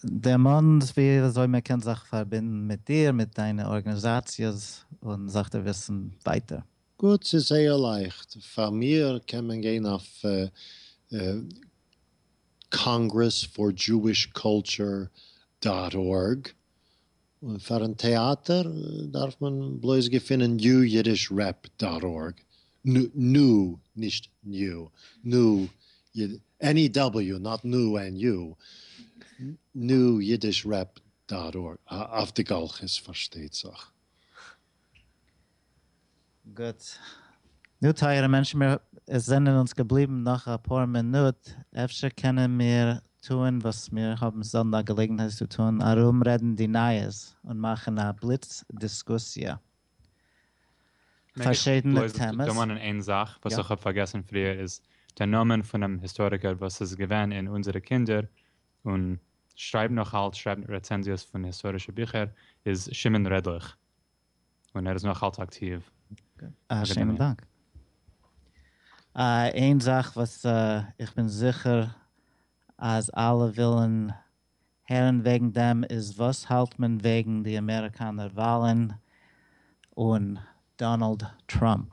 דערמאנט ווי אזוי מען קען זיך פארבינדן מיט דיר מיט דיינע ארגענעזאציעס און זיך דערוויסן ווייטער. גוט ס'איז זייער לייכט פאר מיר קען מען גיין אויף קאנגרעס פאר דזשואיש קולטשור דאט ארג און פארן טעאטער דארף מען בלויז געפינען NewYiddishRep דאט ארג, נו, נישט ניו, נו, NEW, נאט נו ענד יו, NewYiddishRep דאט ארג, אויף די גלחית פארשטייט זיך. גוט. נו טייערע מענטשן מיר עס זענען אונז געבליבן נאך אפאר מינוט, אפשר קענען מיר טוהן וואס מיר האבן זעלדן א געלעגנהייט צו טוהן, ארום רעדן די נייעס און מאכן א בליץ דיסקוסיע פארשידענע טעמעס. מעג איך בלויז דערמאנען איין זאך וואס איך האב פארגעסן פריער איז דער נאמען פונעם היסטאריקער וואס איז געווען אין אונזערע קינדער און שרייבט נאך אלץ שרייבט רעצענזיעס פון היסטארישע ביכער איז שמעון רעדליך. און ער איז נאך אלץ אקטיוו. א שענעם דאנק. איין זאך וואס איך בין זיכער אז אלע ווילן הערן וועגן דעם איז וואס האלט מען וועגן די אמעריקאנער וואלן און דאנאלד טראמפ?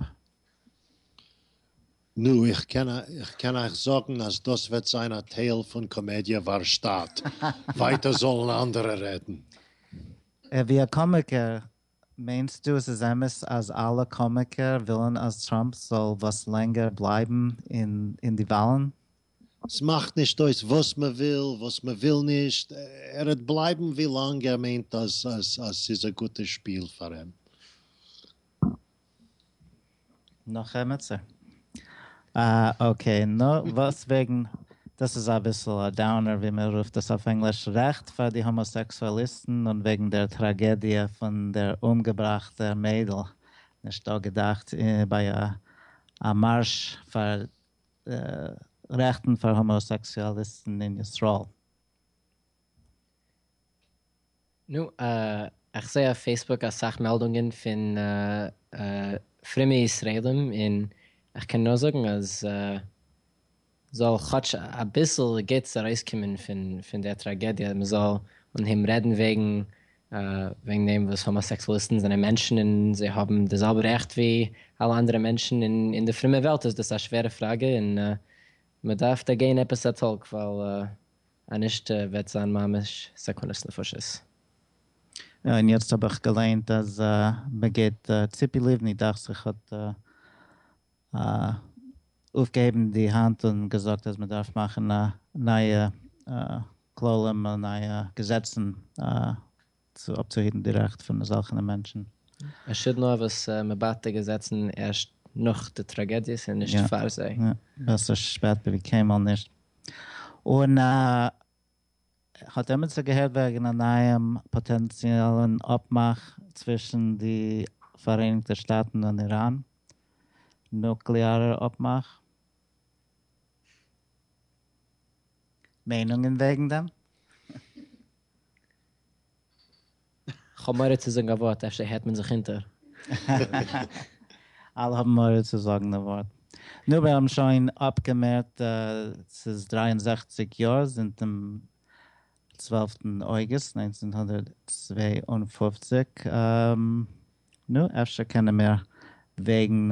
נו, איך קען אייך זאגן אז דאס וועט זיין א טייל פון קאמעדיע ווארשטאט. ווייטער זאלן אנדערע רעדן. ווי א קאמיקער, מיינסטו עס איז אמת אז אלע קאמיקער ווילן אז טראמפ זאל וואס לענגער בלייבן אין די וואלן? ס'מאכט נישט אויס וואס מ'וויל, וואס מ'וויל נישט, ער וועט בלייבן ווי לאנג ער מיינט אז ס'איז א גוטע שפיל פאר אים. נאך עמיצער? אה אקעי נו וואס וועגן דאס איז אביסל א דאונער ווי מען רופט עס אויף ענגליש רעכט פאר די האמאסעקסואליסטן און וועגן דער טראגעדיע פון דער אומגעבראכטער מיידל נישט דא געדאכט ביי א מארש פאר רעכטן פאר האמאסעקסואליסטן אין ישראל. נו, איך זעה אויף פעיסבוק אסאך מעלדונגען פון פרומע ישראלים און איך קען נאר זאגן אז זאל כאטש אביסל גוטס ארויסקומען פון דער טראגעדיע, מען זאל אנהייבן רעדן וועגן וועגן דעם וואס האמאסעקסואליסטן זענען מענטשן און זיי האבן די זעלבע רעכט ווי אלע אנדערע מענטשן און אין די פרומע וועלט איז דאס א שווערע פראגע און מען דארף דערגיין עפעס א טאלק ווייל אז נישט וועט זיין ממש סכנת נפשות. און יעצט האב איך געליינט אז מ'געט ציפי לבני דאכט זיך האט אויפגעהויבן די האנט און געזאגט אז מ'דארף מאכן נייע כללים און נייע געזעצן צו אפצוהערן די רעכט פון אזאלכענע מענטשן. מען שוד נאר וואס מען בייט די געזעצן ערשט נאך די טראגעדיעס און נישט פאר זיי. יא, בעסער שפעט ווי קיינמאל נישט. און האט עמיצער געהערט וועגן א נייעם פאטענציאלן אפמאך צווישן די פאראייניגטע שטאטן און איראן? נוקלעארער אפמאך? מיינונגען וועגן דעם? כ'האב מורא צו זאגן א ווארט אפשר הערט מען זיך אונטער. אלע האבן מורא צו זאגן די ווארט. נו מיר האבן שוין אפגעמערט ס'איז דרײַ און זעכציק יאר זינט דעם צוועלפטן אוגוסט נײַנצן הונדערט צוויי און פֿופֿציק, נו אפשר קענען מיר וועגן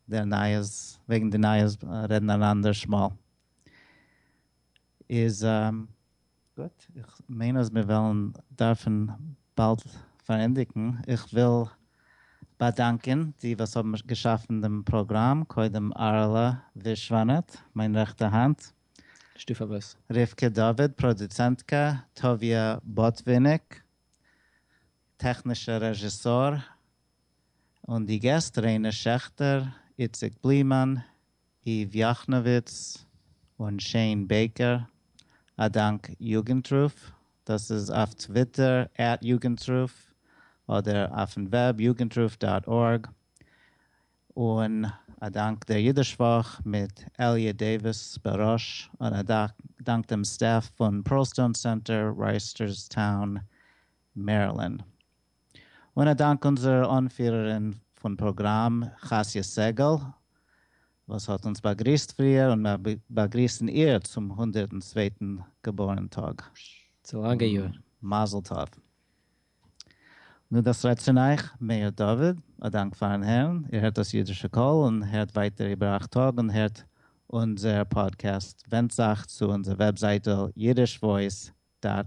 דער נייעס וועגן די נייעס רעדן אן אנדערש מאל. איז גוט, איך מיין אז מיר וועלן דארפן באלד פארענדיגן. איך וויל באדאנקען די וואס האבן געשאפן דעם פראגראם, קודם ארעלע ווישוואנאט, מיין רעכטע האנט, שטופ אויף וואס? רבקה דוד, פראדוצענטקע, טוביה באטוויניק, טעכנישער רעזשיסאר, און די געסט, ריינע שעכטער, איציק בלימאן, איוו יאכנאוויץ און שעין בעיקער, א דאנק יוגנטרוף, דאס איז אויף טוויטער עט יוגנטרוף אדער אויפן וועב יוגנטרוף דאט ארג, און א דאנק דער אידיש וואך מיט עליע דעיוויס בראש, און א דאנק דעם סטעף פון פּערלסטאון סענטער רייסטערסטאון מערילענד. און א דאנק אונזער אנפירערין פון פראגראם חסי' סגל וואס האט אונז באגריסט פריער און מיר באגריסן איר צום הונדערטן צווייטן געבוירן טאג. צו לאנגע יאר. מזל טוב. נו דאס רעדט פון אייך מאיר דוד, א דאנק פארן הערן, איר הערט דאס אידישע קול און הערט ווייטער איבער אייך טאג און הערט אונזער פאדקעסט, ווענדט זייך צו אונזער וועבזייטל אידיש וואויס דאט